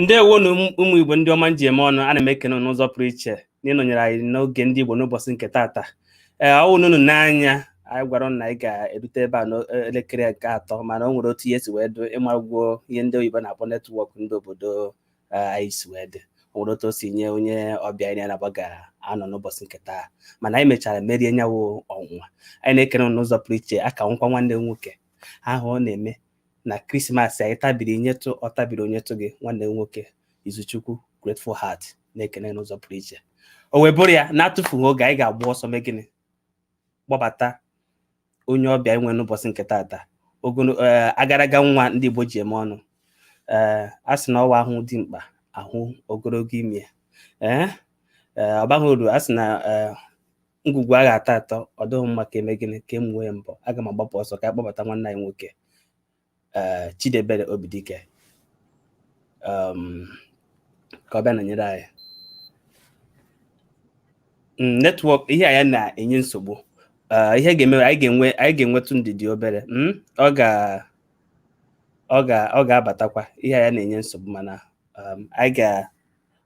ndewo nụ ụmụ igbo ndị ọma m ji eme ọnụ ana m ekene unu n'ụzọ pụrụ iche n'ịnọnyere anyị n'oge ndị igbo n'ụbọchị nke taata ee ọ wụrụ unu n'anya anyị gwara unu na anyị ga-erute ebe a n'elekere nke atọ mana o nwere otu ihe si wee dị ịmagwuo ihe ndị oyibo na-akpọ netwọk ndị obodo anyị si wee dị o nwere otu o si nye onye ọbịa anyị na-anaba ga-anọ n'ụbọchị nke taa mana anyị mechara merie nya wụ ọnwụnwa anyị na-ekene unu n'ụzọ pụrụ iche aka nkwa nwanne m nwoke ahụ ọ na-eme na krismas anyị tabiri nyetụ ọ tabiri o nyetụ gị nwanne m nwoke izuchukwu grateful heart na-ekene n'ụzọ pụrụ iche o wee bụrụ ya na-atụfughị oge anyị ga-agba ọsọ mee gịnị kpọbata onye ọbịa anyị nwe n'ụbọchị nke taata ogolo ee, agaraga nwa ndị igbo ji eme ọnụ ee a sị na ọ wụ a hụ dimkpa a hụ ogologo imi ee ee, ọ baghị uru a sị na ee, ngwugwu a ga-atọ atọ ọ dịghị mma ka eme gịnị ka emuwe ya mbọ aga m agbapụ ọsọ ka a kpọbata nwanne anyị nwoke eh, Chidebere Obidike um, ka ọ bịa nọnyere anyị mm, netwọk ihe anyị na-enye nsogbu eh, ihe ga-eme anyị ga-enwe anyị ga-enwetụ ndidi obere mm, ọ ga ọ ga ọ ga-abatakwa ihe anyị na-enye nsogbu mana um, anyị ga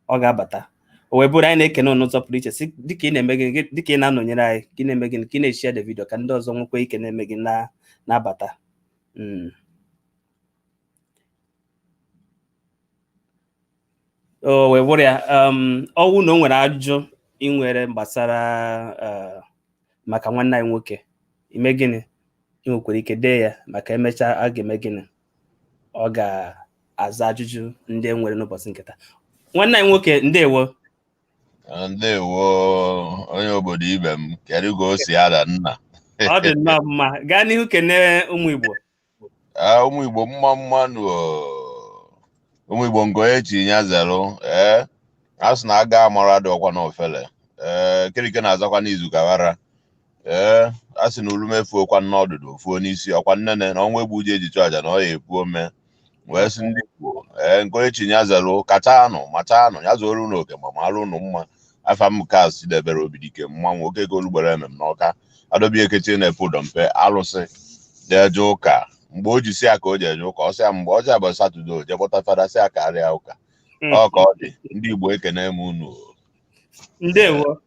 ọ ga-abata o wee bụrụ anyị na-ekene unu n'ụzọ pụrụ iche si dịka ị na-eme gịnị gị- dịka ị na-anọnyere anyị ka ị na-eme gịnị ka ị na-eshare the vidio ka ndị ọzọ nwekwa ike na-eme gịnị na-abata Mm. o wee bụrụ ya um, ọ wụ na o nwere ajụjụ ị nwere gbasara eh, maka nwanne anyị nwoke i mee gịnị ị nwekwara ike dee ya maka emechaa a ga-eme gịnị ọ ga-aza ajụjụ ndị e nwere n'ụbọchị nke taa nwanne anyị nwoke ndewo ah, ndewo onye obodo ibe m kedu ka o si ada nna ọ dị nnọọ mma gaa n'ihu kene ụmụ Igbo ah, ụmụ Igbo mma mma nụ ụmụ Igbo nke onye chi ya zere ee eh? a sị na aga amara dị ọkwa n'ofele ee eh, kirike na-azakwa n'izu ka ghara ee a sị na ulume efuo kwa n'ọdụdụ o fuo n'isi ọkwa nnene na ọnwụ egbu ji eji chụ aja na ọ ya-epu ome wee sị ndị Igbo ee nke onye chi ya zere kacha nụ macha nụ ya zuoro unu oke ma mara unu mma afa m nke azụ chidebere obidike mmanwụ oke ka olugbere emem n'ọka adobe ekechi na-efe ụdọ mpe alụsị jeje ụka mgbe o ji si ya ka o jeje ụka ọ sị ya mgbe ọjọọ bụ satọde o je kpọta fada sị ya kaara ya ụka Mm. ọ ka ọ dị ndị Igbo ekene m unu o. ndewo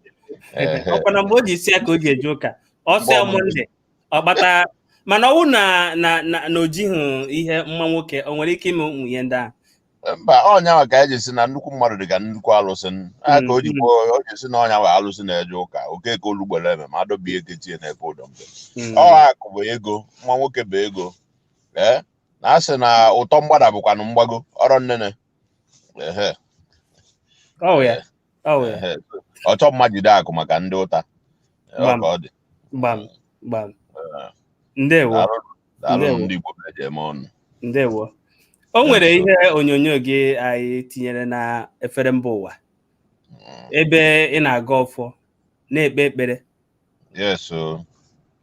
Ehe. ọkwa na mgbe o ji isi ya ka o ji eje ụka ọsịa Mgbe ọ monde ọ gbata mana ọwụ na na na na o jighị ihe mma nwoke o nwere ike ime ụmụ ihe ndị ahụ mba ọ nya ahụ ka eji si na nnukwu mmadụ dị ka nnukwu alụsị n- a ka o ji Mm. kwuo o ji si na onye a bụ alụsị na-eje ụka okeke olugbere eme ma adọbie eke tie na-epe ụdọ mbe Mm. ọ akụ bụ ego mma nwoke bụ ego ee na a sị na ụtọ mgbada bụkwanụ mgbago ọrọ nnene oh, oh, ọchọ mma jide akụ maka ndị ụta ndewo ndewo o nwere ihe onyonyo gị anyị tinyere na efere mba ụwa hmm. ebe ị na-agọ ọfọ na-ekpe ekpere Yes, o.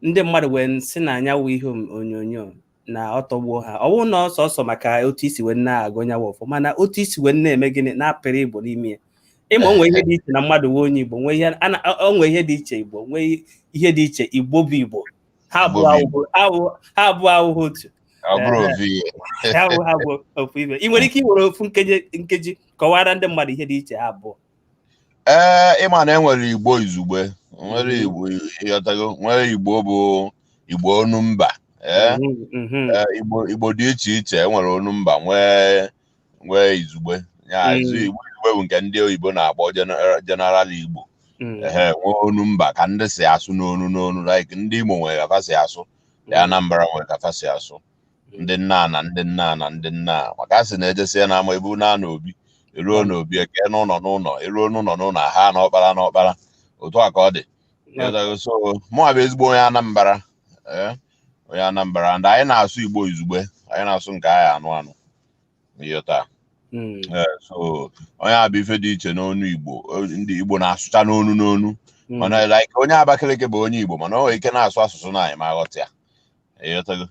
ndị mmadụ wee sị na nya wụ ihe om- onyonyo na ọ tọgbuo ha ọ bụrụ na ọ sọsọ maka otu i si wee na-agọ nya wụ ọfọ mana otu i si wee na-eme gịnị na-apịrị igbo n'ime ya ịma o nwee ihe dị iche na mmadụ wụ onye igbo nwee ihe a na- o nwee ihe dị iche igbo nwee ihe dị iche igbo bụ igbo ha abụọ Igbo bụ awụhụ- awụ- ha abụọ awụghị otu Ọ bụrọ Ee. ovi ya. ha abụọ ha abụrọ ofu ife ị nwere ike iwere ofu nkeji nkeji kọwara ndị mmadụ ihe dị iche ha abụọ ee ịma na enwere igbo izugbe nwere igbo ịghọtago nwere igbo bụ igbo onu mba ee igbo igbo dị iche iche enwere onu mba nwee nwee izugbe ya izu igbo izugbe bụ nke ndị oyibo na-akpọ general igbo ee nwee onu mba ka ndị si asụ n'onu n'onu like ndị imo nwere ka fa si asụ ndị anambra nwere ka fa si asụ ndị nna na ndị nna na ndị nna maka a sị na ejesie na ama ebu na na obi eluo na obi ekee n'ụnọ n'ụnọ eluo n'ụnọ n'ụnọ a ha na ọkpara na ọkpara otu a ka ọ dị so mụnwa bụ ezigbo onye Anambra onye Anambra ndị anyị na-asụ Igbo izugbe anyị na-asụ nke anyị anụ anụ ịghọta Mm. Eh, so ọ nya bụ ife dị iche n'onu igbo Eh, ndị igbo na-asụcha n'onu n'onu Mm. mana like onye abakaliki bụ onye igbo mana o nwere ike na-asụ asụsụ na anyị ma aghọta ya ịghọtago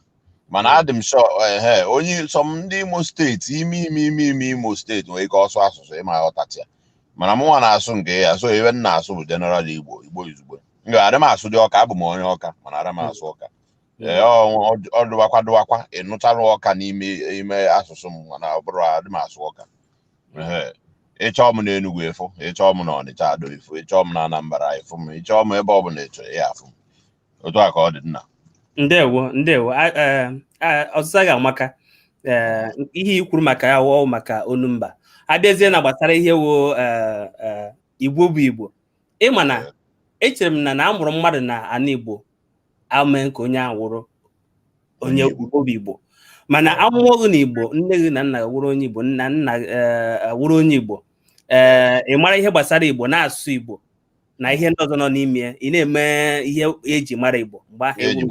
mana adị m sọ ehe onye sọ m ndị imo steeti ime ime ime ime imo steeti nwere ike ọ sụọ asụsụ ị ma aghọtacha ya mana mụ nwa na-asụ nke ya so ife m na-asụ bụ general igbo igbo izugbe nga adị m asụdị ọka abụ m onye ọka mana adị m asụ ọka ee ọ- ọ- ọ dụwakwa dụwakwa ịnụcharụ ọka n'ime ime asụsụ m mana ọ bụrụ adị m asụ ọka Ehe. ị chọọ m n'Enugu ị fụ ị chọọ m na Ọnịcha Ado ị fụ ị chọọ m na Anambra ị fụ m ị chọọ m ebe ọbụla ịchọ ya afụ m otu a ka ọ dị nna ndewo ndewo A- eh, ah, ọzịza gị amaka Eh, ihe i kwuru maka ya wụ maka onu mba abịazie na gbasara ihe wụ eh, eh, igbo bụ igbo ịma na echere m na na a mụrụ mmadụ na ana igbo amee ka onye ahụ wụrụ onye igbo bụ igbo mana amụọ gị na igbo nne gị na nna gị wụrụ onye igbo nna nna eh, wụrụ onye igbo ee eh, ị mara ihe gbasara igbo na-asụ igbo na ihe ndị ọzọ nọ n'ime ya ị na-eme ihe eji mara igbo mgbe ahụ ị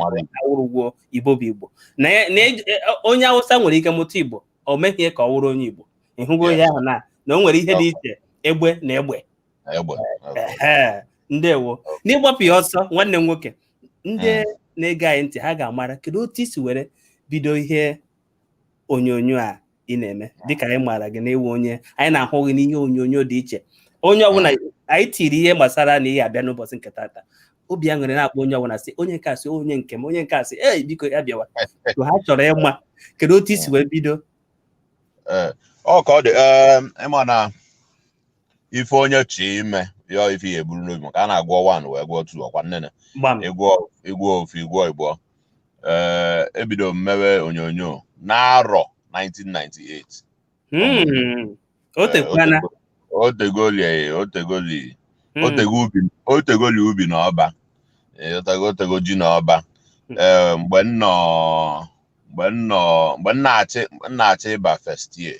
wụrụgwo igbo bụ igbo na e, e, onye awụsa nwere ike mụta igbo o meghị ka ọ wụrụ onye igbo ịhụgo ihe ahụ na na o nwere ihe dị iche egbe na egbe ndewo n'ịgbapụ ya ọsọ nwanne m nwoke ndị hmm. na-ege anyị ntị ha ga-amara kedu otu i si were bido ihe onyonyo a ị na-eme hmm. dịka anyị maara gị na ị wụ onye anyị na-ahụ gị n'ihe onyonyo dị iche onye hmm. ọbụla anyị tiri ihe gbasara na ị ya-abịa n'ụbọchị nke tata obi aṅụrị na-akpọ onye ọbụla sị onye nke asị onye nke m onye nke asị ee biko ya bịawa ha chọrọ ịma kedu otu i si wee bido eh, ọ ka ọ dị ị ma na ife onye chọọ ime ya ife ya eburu n'obi maka a na-agụọ one wee gụọ two ọkwa nnene gbam ị gụọ ị gụọ ofu ị gụọ ịbụọ ee ebidoro m mewe onyonyo n'arọ 1998 Mm. o tekwana o tegoli eh, o tegoli Mm. o tego ubi o tegoli ubi na ọba eh, o tego o tego ji na ọba Mm. ee mgbe m nọ mgbe m nọ mgbe m na-achọ m na-achọ ịba first year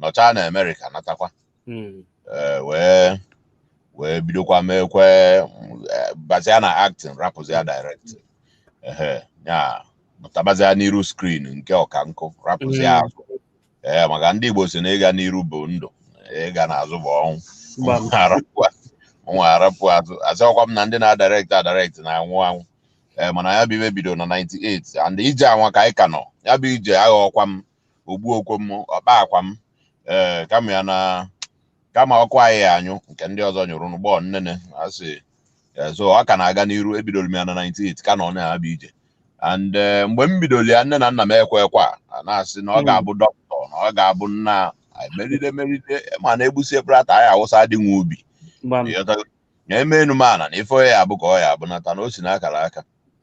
nọchaa na amerịka natakwa hmm. eh, wee wee bidokwa meekwe eh, bazia na acting rapụzia directing pụtabazia n'iru screen nke ọka nkụ rapụzia hmm. azụ ee eh, maka ndị igbo sị na ịga n'iru bụ ndụ ịga n'azụ bụ ọnwụ mụwa arapụ azụ asịrọkwa m na ndị na-adirect adirect na-anwụ anwụ ee mana ya bụ ife bido na 98 and ije anwa ka anyị ka nọ ya bụ ije aghọọkwa m o gbuokwa m ọkpa akwa m ee eh, kama ya na kama ọkụ anyị ya anyụ nke ndị ọzọ nyụrụ n'ụgbọ nnene asị eh, so ọ ka na-aga n'iru ebidoro m ya na 98 ka nọ na ya bụ ije and eh, mgbe m bidoro ya nne na nna m ekwe ekwe a na-asị na ọ hmm. ga-abụ doctor na ọ ga-abụ nna meride meride mana egbusi ebrata anyị awụsa dị nwa ubi na emenu m ana na ife ya abụ ka ọ ya abụ nata na o si n'akara aka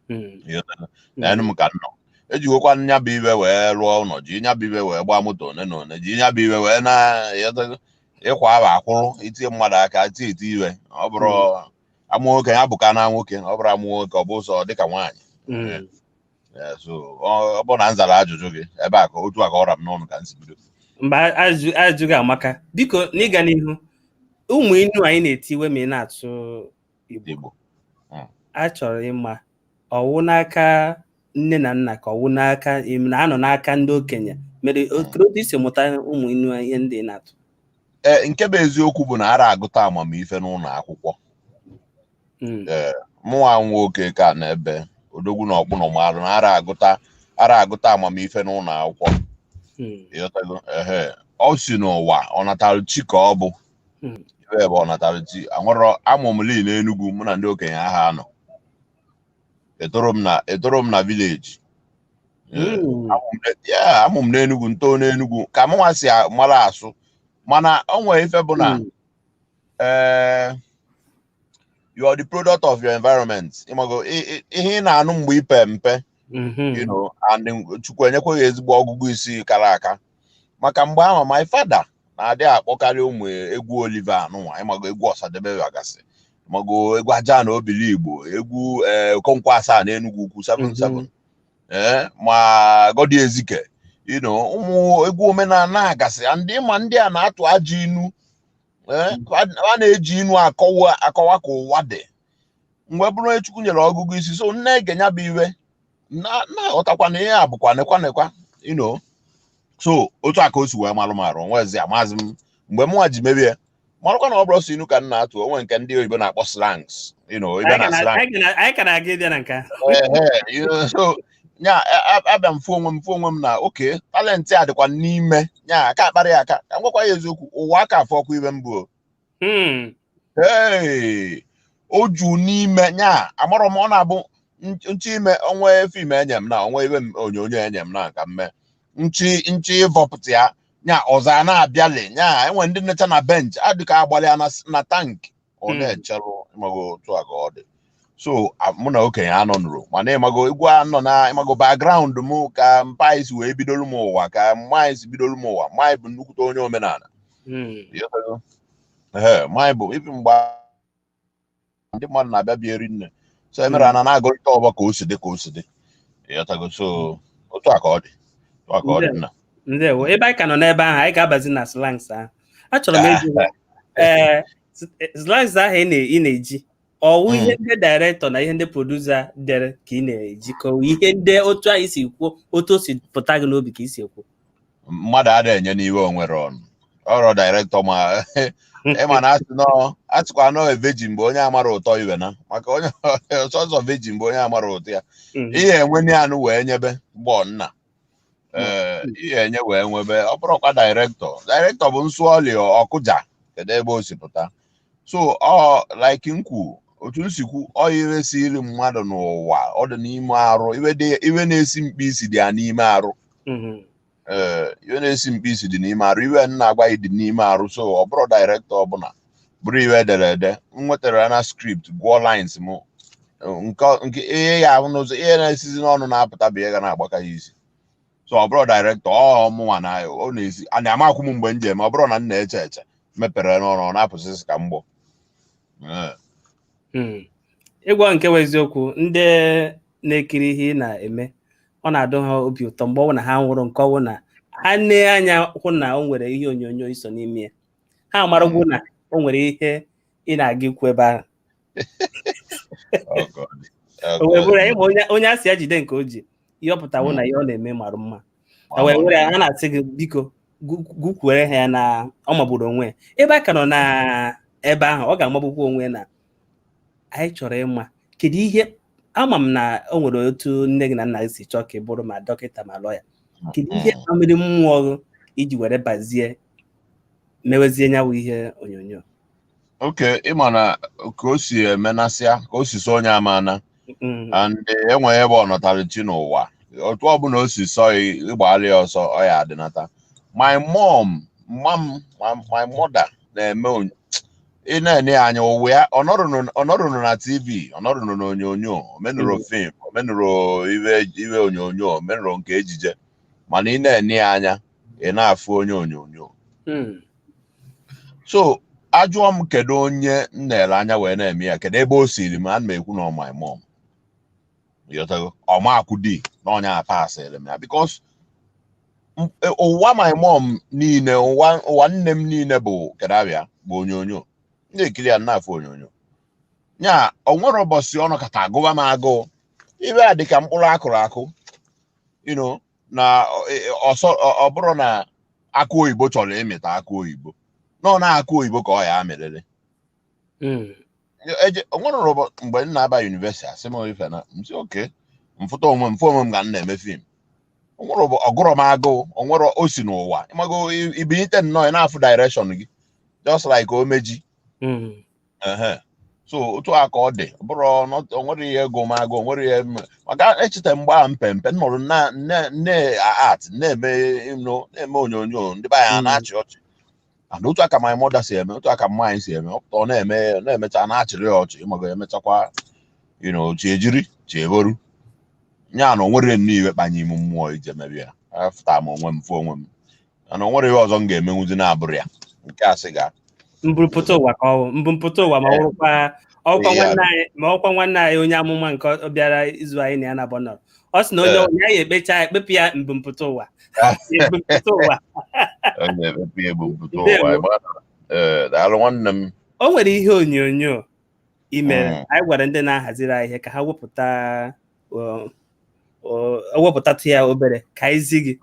Mm. Ịghọtara? neenu m ka m nọ ejigokwa m nya bụ ife wee rụọ ụnọ ji nya bụ ife wee gbaa moto one na one ji nya bụ ife wee na ịghọtago? ịkwa ahụ akwụrụ i tie mmadụ aka tie eti iwe ọ bụrụ a mụọ nwoke ya bụ ka na nwoke ọ bụrụ a mụọ nwoke ọ bụ ụzọ dịka nwaanyị Mm. Eh, so ọ ọ bụrụ na m zara ajụjụ gị ebe a ka otu a ka ọ ra m n'ọnụ ka m si bido mba ajụjụ gị amaka biko n'ịga n'ihu ụmụ inu anyị na-etiwe ma ị na-atụ Igbo hmm. achọrọ m ịma ọ wụ n'aka nne na nna ka ọ wụ n'aka na anọ n'aka ndị okenye mere hmm. otu i si mụta ụmụ inu ihe ndị na-atụ ee nke bụ eziokwu bụ na ara agụta amamife n'ụlọ akwụkwọ hmm. ee mụnwa nwoke ka na ebe Odogwu na Ọkpụnọ maalụ na ara agụta ara agụta amamife n'ụlọ akwụkwọ ọ si n'ụwa ọ natalụ chi ka ọ bụ Hmm. iwe bụ ọ natara chi amụrọ amụ m lii n'Enugwu mụ na ndị okenye aha anọ etorọ m na etorọ m na village Hmm. ya amụ m n'Enugwu ntoo n'Enugwu ka mụnwa si a- mara asụ mana o nwere ife bụ na Hmm. eh, you are the product of your environment ịmago i- i- ihe ị na-anụ mgbe ị pe mpe Mhm. you know, and Chukwu enyekwa gị ezigbo ọgụgụ isi kara aka maka mgbe ahụ my father na-adị akpọkarị ụmụ egwu Oliver anụnwa ịmago egwu Ọsadebe agasị ịmago egwu Ajana Obiligbo egwu eh, Okonkwo Asaa na Enugwu Ukwu 77 eh, ma Goddy Ezike you know ụmụ egwu omenala agasị and ma ndị a na-atụ ajọ inu eh, a a na-eji inu akọwa akọwa ka ụwa dị m wee bụrụ onye Chukwu nyere ọgụgụ isi so m na-ege nya bụ iwe na-aghọtakwa na ihe a bụkwa nekwa nekwa you know so otu a ka o si wee malụ m arụ nwezi amazi m mgbe mụnwa ji mebie malụkwa na ọ bụrọ sọ inu ka m na-atụ o nwe nke ndị oyibo na-akpọ slangs you know ibe na slang anyị ka na-aga ịbịa na nke ahụ so nya abịa m fụ onwe m fụ onwe m na oke talent a dịkwa n'ime nya aka akparọ aka ka m gwakwa gị eziokwu ụwa aka afụrọkwa iwe m bụ ee o ju n'ime nya amarọ m ọ na-abụ nche ime o nwe film enye m na o nwe iwe onyonyo enye m na nka mme nchi nchi ịvọpụta ya nya ọzọ a na-abịali nya enwe ndị nọcha na bench adịka agbalị ya na tank ọ hmm. na-echerụ ịmago otu a ka ọ dị so mụ na okenye anọ nụrụ mana ịmago egwu anọ na ịmago background m ka mpa m si wee bidolu m ụwa ka mma m si bidolu m ụwa mma bụ nnukwute onye omenala ee manyị bụ ibi mgbe ndị mmadụ na-abịa bịa eri nni so e mere ana na-agụrịta ọgbọ ka o si dị ka o si dị ịghọtago so otu a ka ọ dị otu a ka ọ dị nna ndewo ebe anyị ka nọ n'ebe ahụ anyị ga-abazi na slangs ahụ achọrọ m ịjụ ee slangs ahụ ị na-eji ọ wụ mm. ihe ndị director na ihe ndị producer dere ka ị na-eji ka ọ ihe ndị otu anyị si kwuo otu o si pụta gị n'obi ka i si ekwu mmadụ ada enye n'iwe o nwerọ nụ ọ bụrọ director ma ịma na asịkwa anọ veji mgbe onye amara ụtọ iwe na maka onye ọsọsọ veji mgbe onye amara ụtọ ya mm-hmm. ihe enwe anụ wee nyebe gbọ nna ee ihe enye wee nwebe ọ bụrụkwa dairektọ dairektọ bụ m sụọlị ọ kụja kedu ebe o si pụta so ọ like m kwu otu m si kwu ọ iwe siri mmadụ n'ụwa ọ dị n'ime arụ iwe dị- iwe na-esi mkpi isi dị ya n'ime arụ Mhm. ee iwe na-esi mkpi isi dị n'ime arụ iwe m na-agwa gị dị n'ime arụ so ọ bụrụ dairektọ ọbụla bụrụ iwe e dere ede m nwetara ya na skript gụọ lines m nke nke ihe ya ahụ n'ụzọ ihe na-esizi n'ọnụ na-apụta bụ ihe ga na-agbaka ya isi so ọ bụrụ dairektọ ọ mụnwa na ọ na-esi amakwụ m mgbe m ji eme ọ bụrụ na m na-eche eche mepere n'ọnụ ọ na-apụsịsị ka mgbọ Ee. Hmm. ịgwa nke bụ eziokwu ndị na-ekiri ihe ị na-eme ọ na-adụ ha obi ụtọ mgbe ọ bụ na ha nụrụ nke ọ bụ na ha nee anya hụ na o nwere ihe onyonyo i so n'ime ya ha amaragwo na o nwere ihe ị na-aga ikwu ebe ahụ o wee bụrụ anyị ma onye onye a sị ya jide nke o ji ihe ọ pụta wụ na ihe ọ na-eme mara mma o wee were ya ha na-asị gị biko gu- gukwuere ha ya na ọ magburu onwe ya ebe a ka nọ na ebe ahụ ọ ga-amagbukwa onwe ya na anyị chọrọ ịma kedu ihe ama m na o nwere otu nne gị na nna gị si chọọ ka ị bụrụ ma dọkịta ma lọya kedu ihe kpaliri mmụọ gị iji were bazie mewezie nya wụ ihe onyonyo okay ị ma na ka o si emenasịa ka o si sọ onye amana Mm, and enweghị ebe ọ nọtara chi n'ụwa otu ọbụla o si sọ ya ịgbagharị ya ọsọ ọ ya adịnata my mom mma m my- my mother na-eme onyo- ị na-ene ya anya ụwa ya ọ nọrụnụ ọ nọrụnụ na tv ọ nọrụnụ n'onyonyo o menurọ Mm. fim o menurọ iwe iwe onyonyo o menurọ nke ejije mana ị na-ene ya anya ị na-afụ onye onyonyo hmm. so ajụọ m kedu onye m na-ele anya wee na-eme ya kedu ebe o siri m ana m ekwu na ọ my mom ịghọtago ọ makwụdị na ọ nya pasịrị m ya because m- e- ụwa my mom niile ụwa ụwa nne m niile bụ kedu abịa bụ onyonyo ndị ekiri ya na-afụ onyonyo ya o nwere ụbọchị ọ nọkata gụwa m agụụ ihe a dịka mkpụrụ a kụrụ akụ you know na ọsọ ọ bụrụ na akụ oyibo chọrọ ịmịta akụ oyibo na ọ na akụ oyibo ka ọ ya amịrịrị o nwerọ mgbe m na-aba yunivesiti asị m ife na m si okay m fụta onwe m fụ onwe m ga m na-eme fim o nwerọ ọ gụrọ m agụụ o nwerọ o si n'ụwa ị mago ị binite nnọọ ị na-afụ direction gị just like ome ji so otu a ka ọ dị bụrụ o nwere ihe aga m agụ o nwere ihe m ga-echeta mgbe a m pe mpe nọrọ nne art na-eme na-eme onyonyo ndị be anyị hmm. na-achị ọchị and otu a ka my mother si eme otu a ka mama anyị si eme ọ na-eme na-emecha na-achịrị ya ọchị m ga-emechakwa you know chi ejiri chi eboru ya na o nwere nne iwe kpanye ime mmụọ ije mebe ya afụta m onwe m fụ onwe m mana o nwere ihe ọzọ m ga-emenwuzi na-abụrọ ya nke a sị ga mburupụta ụwa ka ọ wụ mbumpụta ụwa ma ọ wụkwa ọkwa Ihe a- nwanne anyị ma ọkwa nwanne anyị onye amụma nke ọ bịara izu anyị na ya na abọ nọrọ ọ sị na onye Ee. onye anyị ekpecha ya ekpepụ ya mbumpụta ụwa mbumpụta ụwa ọ na-emepe ya ebumpụta Ndewo. ụwa ịma na- ee, daalụ nwanne m o nwere ihe onyonyo i mere Mm. anyị gwara ndị na-ahaziri anyị ihe ka ha wepụta ewepụtatụ ya obere ka anyị zi gị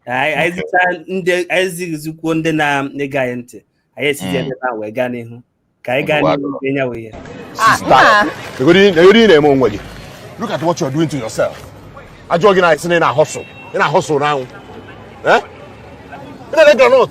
anyị zicha gị anyị zikwuo ndị na-ege anyị ntị anyị esizi ebe a wee gaa n'ihu ka anyị gaa n'ihu nye ya wee negodi ihe ị na-eme onwe gị look at what you are doing to yourself a jụọ gị ị sị na ị na-ahọsụ ị na-ahọsụ n'anwụ ị na-ele groundnut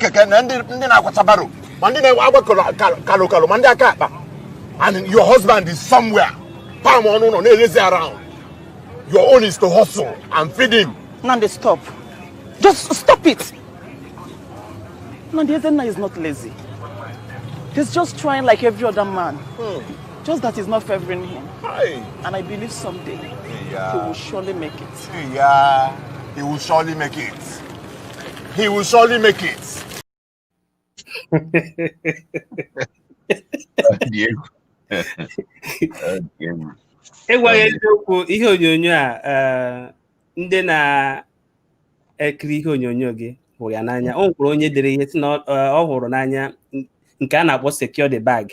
keke na ndị ndị na-akwata barrow ma ndị na-eje agba kalụ kalụ ma ndị aka akpa and your husband is somewhere palm ọ nọ ụlọ na-lazy around your own is to hustle and feed him Nandi, stop. Just stop it. Nandi Ezenna is not lazy. He's just trying like every other man. Just that it's not favoring him. Hey. And I believe someday he Yeah. will surely make it. Yeah, he will surely make it. He will surely make it. ịgwa gị eziokwu ihe onyonyo a eh, ndị na-ekiri ihe onyonyo gị hụrụ ya n'anya o nwekwara onye dere ihe sị na ọ eh, hụrụ n'anya nke a na-akpọ secure the bag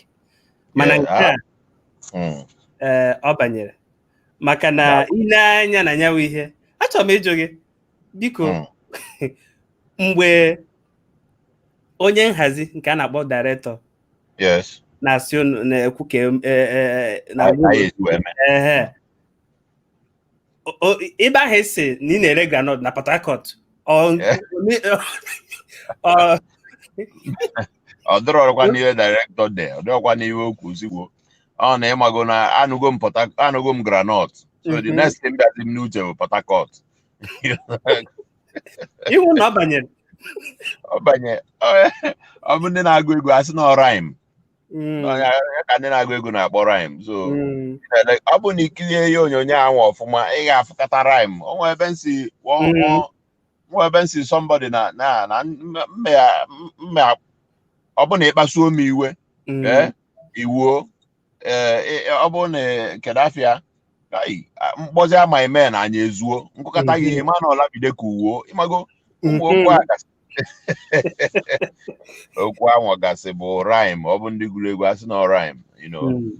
mana nke a hmm. eh, ọ banyere maka na ile anya na nyawa ihe achọrọ m ịjụ gị biko hmm. mgbe onye nhazi nke a na-akpọ director na-asị unu na-ekwu ka e, e, e, na ebe ahụ ị sị na ị na-ere groundnut na Port Harcourt ọ dịrọkwa n'ihe director dee ọ dịrọkwa n'ihe o kwu ozigbo ọ na ị mago na anụgo m anụgo m groundnut so the mhm. next thing bịazi m n'uche bụ Port Harcourt iwu na ọ banyere ọ banye ọ bụ ndị na-agụ egwu asị na ọ rhyme Mm, Ọ ya- ya ka ndị na-agụ egwu na-akpọ rhyme so mm, ele- ọ bụ na i kirie ihe onyonyo ahụ ọfụma ị ga-afụkata rhyme o nwee ebe m sị Mm. nwee ebe m sị somebody na na na mme ya mme ya ọ bụ na ị kpasuo m iwe mm, ee iwuo ee ọ bụrụ na kedu afa ya ai, a- m kpọzie ama eme na anyị ezuo m kụkata gị ihe ma na ọlamide ka uwo ịmago ụmụ okwu a gasị okwu anwa gasị bụ rhyme ọ bụ ndị gụrụ egwu asị na ọ rhyme you know Mm,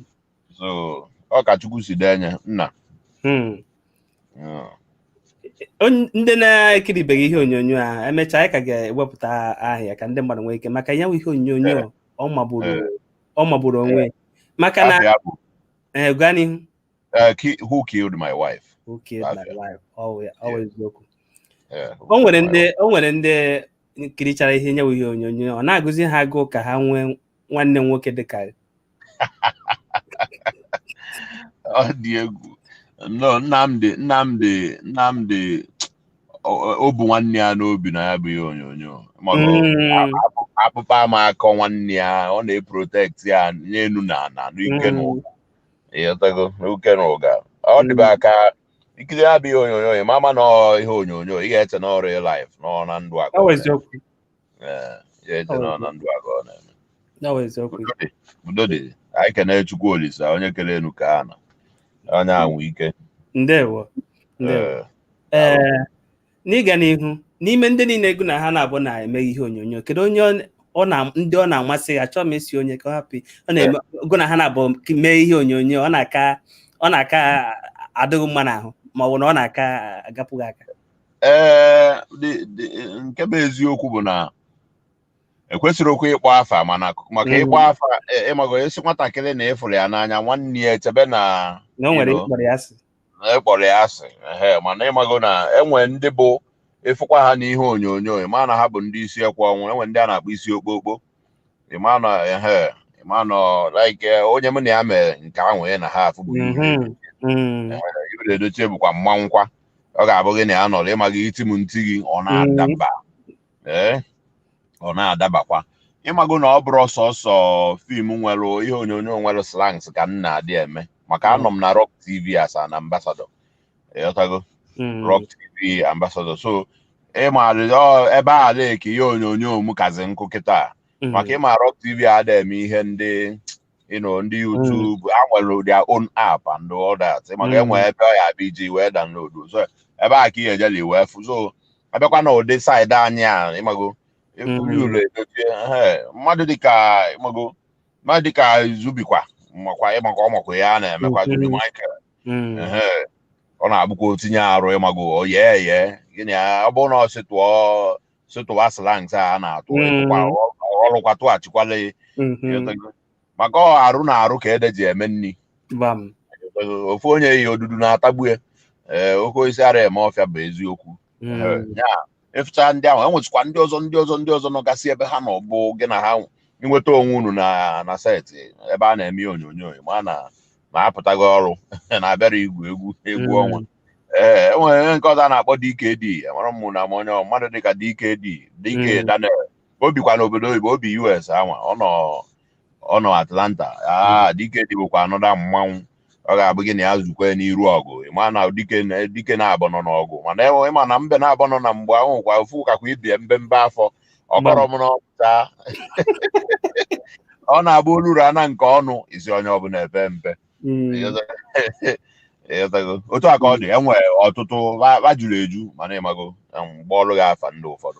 so ọ ka chukwu si dee enye nna mm. Mm. Onye- ndị na-ekiribeghị ihe onyonyo a emechaa anyị ka ga-ewepụta aha ya ka ndị mmadụ nwee ike maka ya bụ ihe onyonyo ọ magburu ọ magburu onwe ya maka na afa ya bụ, eh, gaa n'ihu eh, ki- who killed my wife Who killed my Afia. wife? Ọ ya- ọ Yeah. eziokwu. Eh, who o nwere killed my ndị o nwere ndị kirichara ya bụ ihe onyonyo ọ na-agụzi ha agụụ ka ha nwee nwanne nwoke dị ka ọ dị egwu no nnamdị nnamdị nnamdị o bu nwanne ya n'obi na ya bụ ihe onyonyo hmm. akpụkpa ama akọ nwanne ya ọ na-eprotekti ya n'enu na ana n'ike na ụga ịghọtago n'uke na ụga ọ hmm. dịbe aka ikiri ya bụ ihe onyonyo ị ma ama na ọ ihe onyonyo ị ga-eche na ọ real life na ọ na ndụ ka ọ Ee, ị ya-eche na ọ na ndụ ka ọ na-eme Ya bụ eziokwu. Udo dị, udo dị anyị kene chukwu olisa onye kere enu kee ana ọ ya nwe ike Ndewo. Ndewo. Ee, Ee, n'ịga n'ihu n'ime ndị niile gụ na ha naabọ na-eme ihe onyonyo kedu onye ọ- ọ na ndị ọ na-amasị gị achọọ m ịsị onye ka ọ hapụ ọ na-eme gụ na ha naabọ mee ihe onyonyo ọ na-aka ọ na-aka adị gị mma n'ahụ ma ọ bụ na ọ na-aka agapụ gị aka ee dị- dị- nke bụ eziokwu bụ na ekwesịrị okwu ịkpọ afa mana maka Mm. ịkpọ afa ị- ịmago esi nwatakịrị na ị fụrụ ya n'anya nwanne ya echebe na na o nwere Hello. ịkpọrọ ya asị na ịkpọrọ ya asị ehe mana ịmago na e nwee ndị bụ ị fụkwa ha n'ihe onyonyo ị maa na ha bụ ndị isi ekwe ọnwụ e nwee ndị a na-akpọ isi okpokpo ịmanọ ehe ịmanọ like eh, onye mụ na ya mee nke ahụ ị na-afụ bụ Mhm. Mm. Yul Edochie bụkwa mmanwụkwa ọ ga-abụ gị na ya nọrọ ịmago i tie m m tie gị ọ na-adaba ee ọ na-adabakwa ịmago na ọ bụrọ sọsọ film nwere ihe onyonyo nwere slangs ka m na-adị eme maka anọ m na Rok TV as an ambassador ịghọtago Mm. ROK TV ambassador so ịmara ọ- ebe a na-eke ihe onyonyo m kazi nkụ kịta Mm. maka ịma ROK TV ada eme ihe ndị you know, ndị YouTube ha nwere their own app and all that maka Mm. enwe ebe ọ ya bụ iji wee download so ebe a ka ihe ejeli wee fụ so abịakwa na ụdị side anyị a ịmago Mm. eburu ụlọ edochie ehe, mmadụ dịka ịmago mmadụ dịka Zubby kwa makwa ịmakwa ọmakwa ya a na-emekwa Mm. Zubby Michael hmm. ọ na-abụkwa o tinye arụ ịmago oye eye gịnị ọ bụrụ na ọ sịtụọ sịtụwa slangs a na-atụ hmm. ghọrụkwa tụghachikwala hmm. maka ọ arụ na arụ ka ede ji eme nri ofu onye yi odudu na-atagbu ya ofu osisi ara eme ọfịa bụ eziokwu Mm. Eh, ya ịfụcha ndị ahụ e nwesịkwa ndị ọzọ ndị ọzọ ndị ọzọ nọgasị ebe ha nọ bụ gị na ha inweta onwe unu na na set ebe a na-eme ihe onyonyo ma na ma apụtaghị ọrụ na-abịara igwu egwu egwu Mm. ọnwa ee enwere nke ọzọ a na-akpọ DKD amara m na m onye ọ- mmadụ dịka DKD DK Mm. Daniel o bikwa n'obodo oyibo o bi US anwa ọ nọ ọ nọ Atlanta ah DKD bụkwa another mmanwụ ọ ga-abụ gị na ya zukwa n'iru ọgụ ịma na dike na dike naabọ nọ n'ọgụ mana enwe ịma na mbe naabọ nọ na mgbe ahụ kwa ofu kakwa ibie mbe mbe afọ ọkọrọ m n'ọpụta ọ na-abụ oluru ana nke ọnụ isi onye ọbụla epe mpe Mm. Ịghọtago? otu a ka ọ dị enwe ọtụtụ va- va juru eju mana ịmago em, m kpọọrụ gị afa ndị ụfọdụ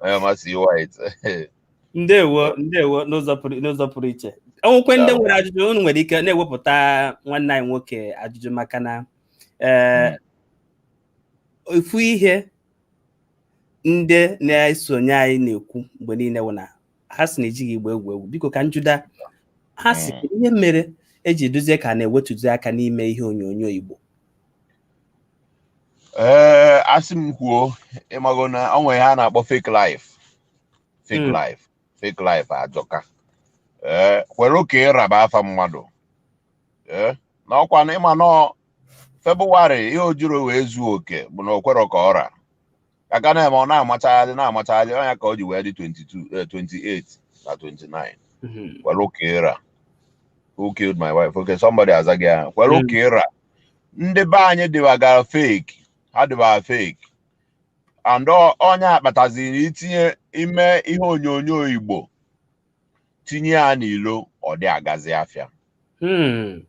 onye ọma CY ndewo ndewo n'ụzọ pụrụ n'ụzọ pụrụ iche o nwekwee ndị nwere ajụjụ unu nwere ike na-ewepụta nwanne anyị nwoke ajụjụ maka na ee ofu ihe ndị na-esonye anyị na-ekwu mgbe niile wụ na ha sị na ejighị igbo egwu egwu biko ka njuda ha sị ihe mere o ji dịzie ka a na-ewetuzi aka n'ime ihe onyonyo igbo ee asị m kwuo ịmago na ọ nwere ihe a na-akpọ fake life fake Mm. life fake life ajọka ee kwere ka ị ra bụ afa mmadụ ee na ọkwa na ịma na febụwarị ihe o jirọ wee zuo oke bụ na o kwerọ ka ọ ra aka na-eme ọ na-amachagharị na-amachagharị ọ nya ka o ji wee dị 22 eh, 28 na 29 Mhm. kwere ka ị ra who killed my wife okay somebody aza gị ahụ kwere ka ị ra ndị be anyị dịbagara fake ha dịbara fake and ọ- ọ nya kpataziri itinye ime ihe onyonyo igbo tinye ya n'ilo ọ dị agazi afịa Hmm.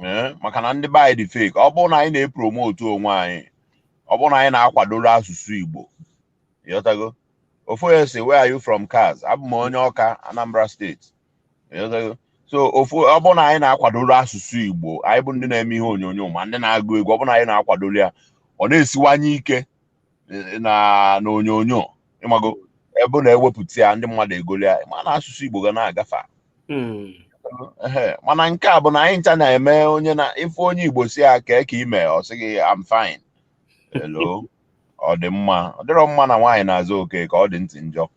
Ee, maka na ndị be anyị dị fake ọ bụrụ na anyị na-epromotu onwe anyị ọ bụrụ na anyị na-akwadoro asụsụ Igbo ịghọtago ofu onye sị where are you from cos abụ m onye Ọka Anambra state ịghọtago so if ọ bụrụ na anyị na-akwadoro asụsụ Igbo anyị bụ ndị na-eme ihe onyonyo ma ndị na-agụ egwu ọ bụrụ na anyị na-akwadoro ya ọ na-esiwanye ike eh, na na onyonyo ịmago ebe ọ na-ewepụta ya ndị mmadụ egoli ya ma na asụsụ Igbo ga na-aga far. Mm. Ehe, mana nke a bụ na anyị ncha na-eme onye na ịfụ onye Igbo sị ya kee ka i me ọ sị gị I'm fine hello ọ dị mma ọ dịrọ mma na nwaanyị na-aza Okeke ọ dị ntị njọ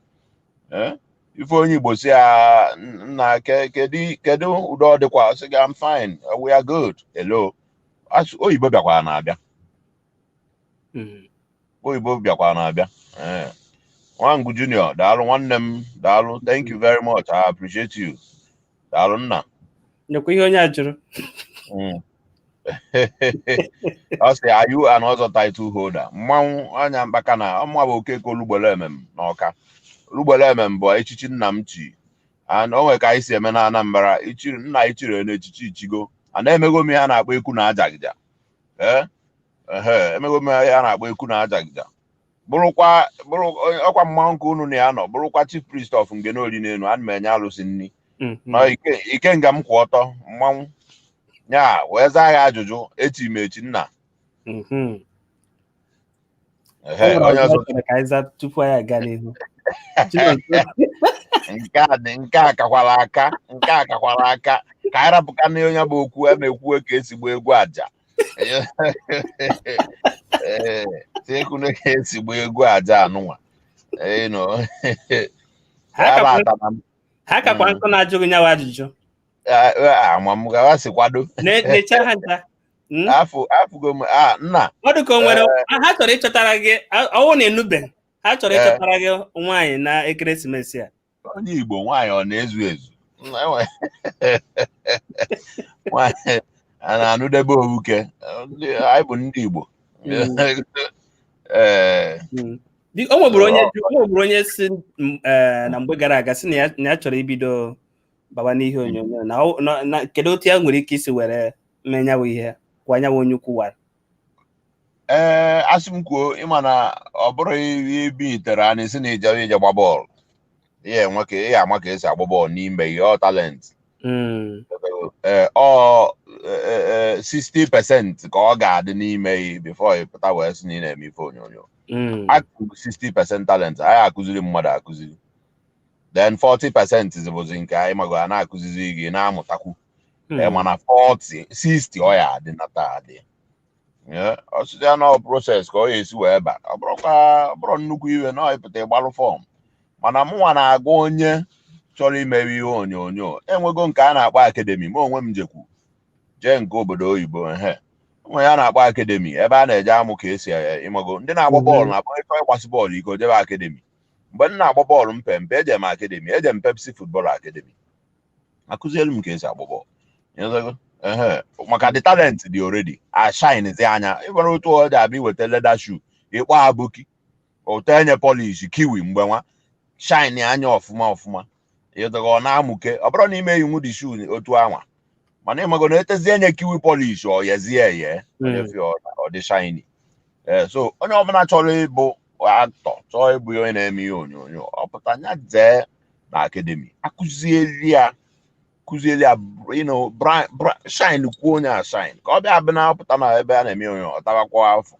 Eh, ịfụ onye Igbo sị ya nna ke- kedu kedu udo ọ dịkwa ọ sị gị I'm fine we are good hello Asụ- oyibo bịakwaranụ abịa Mm. oyibo bịakwanụ abịa Eh. nwangu junior daalụ nwanne m daalụ thank you very much i appreciate you daalụ nna Nekwa ihe onye a jụrụ. Mm. ọ sị are you an ọzọ title holder mmanwụ anya mkpaka na ọ mụwa bụ okeke olugbele emem na ọka olugbele emem bụ echichi nna m chi and o nwere ka anyị si eme na anambra ichiri nna ichiri na echichi i chigo mana emego m ihe a na-akpọ ekwu na ajaghija ee emego m ihe a na-akpọ ekwu na ajaghija bụrụkwa bụrụ ọkwa mmanwụ nke unu na ya nọ bụrụkwa chief priest of Ngene Oli n'elu ana m enye alụsị nri mm-hmm. na ike nga m kwụ ọtọ mmanwụ ya wee zaa ya ajụjụ echi m echi nna mm-hmm. tupu anyị aga n'ihu nke a dị nke a kakwara aka nke a kakwara aka ka anyị rapụka na onye bụ okwu a na-ekwu ka esi gba egwu aja ee tiekunu ka esi gba egwu aja anụnwa ha kakwa nkụ na-ajụghị nyawa ajụjụ ama m gawa si kwado Ne- Nechaa ha ncha. Mm. afụ afụgo m a nna Ọ dị ka o nwere ha chọrọ ịchọtara gị a- ọ wụ na enube ha chọrọ Eh. ịchọtara gị nwaanyị na ekeresimesi a. onye igbo nwaanyị ọ na-ezu ezu Enwe- nwaanyị a na-anụdebe owuke Ndị- anyị bụ ndị igbo Mm. ee Mm. Di- O nweburu onye o nweburu onye sị m, eh, na mgbe gara aga sị na ya na ya chọrọ ibido baba n'ihe onyonyo na ọ- na- na kedu otu ya nwere ike isi were mee nyawa ihe kwa nyawa onye ukwu wara ee a sị m kwuo ịma na ọ bụrụ i bilitere na-asị na ị je ị ja-agba bọọlụ ị ya-enwe ka ị ya-ama ka esi agba bọọlụ n'ime ghị ọ talent Mm, ee ọ ee, ee, 60 percent ka ọ ga-adị n'ime ghị before ị pụta wee sị na ị na-eme ife onyonyo mm, akụkụ 60 percent talent ayị akụziri mmadụ akụziri then 40 percent bụzi nke anyị mago a na-akụzizi gị na-amụtakwu Hmm. Eh, mana 40 60 ọ ya adị na taa adị Eh, ọsịsị ya na proses ka ọ ya esi wee ba ọ bụrọkwa ọ bụrọ nnukwu ihe na ọ ịpụta ịgbalụ fọm mana mụnwa na-agwa onye chọrọ imewe ihe onyonyo enwego nke a na-akpọ akademi ma onwe m jekwu jee nke obodo oyibo ehe o nwe ihe a na-akpọ akademi ebe a na-eje amụ ka esi eh, ịmago ndị na-agba bọọlụ na-akpọ ịchọ ịgbasi bọọlụ ike jebe akademi mgbe m na-agba bọọlụ mpe mpe eje m akademi eje m pepsi futbọl akademi a kụzielu m ka esi agba bọọlụ Ịghọtago? Ehe. maka the talent dị already a shinezia nya ị mara otu ọ dị abụ i weta leda shu ị kpọọ aboki o tee nye polish kiwi mgbe nwa shinea nya ọfụma ọfụma ịdọghị ọ na-amụke ọ bụrọ na ị ma eyinwu the shu otu anwa mana ịmago na e tezie nye kiwi polish o yizie ye ọ dị shiny ee so onye ọbụla chọrọ ịbụ aktọ chọọ ịbụ onye na-eme ihe onyonyo ọ pụta nya jee na akademi a kụzieli ya kụzieli ya ịnụ shine kwuo nye ashine ka ọ ya abụ nya pụta na ebe a na-eme nye ọ tabakwa afọ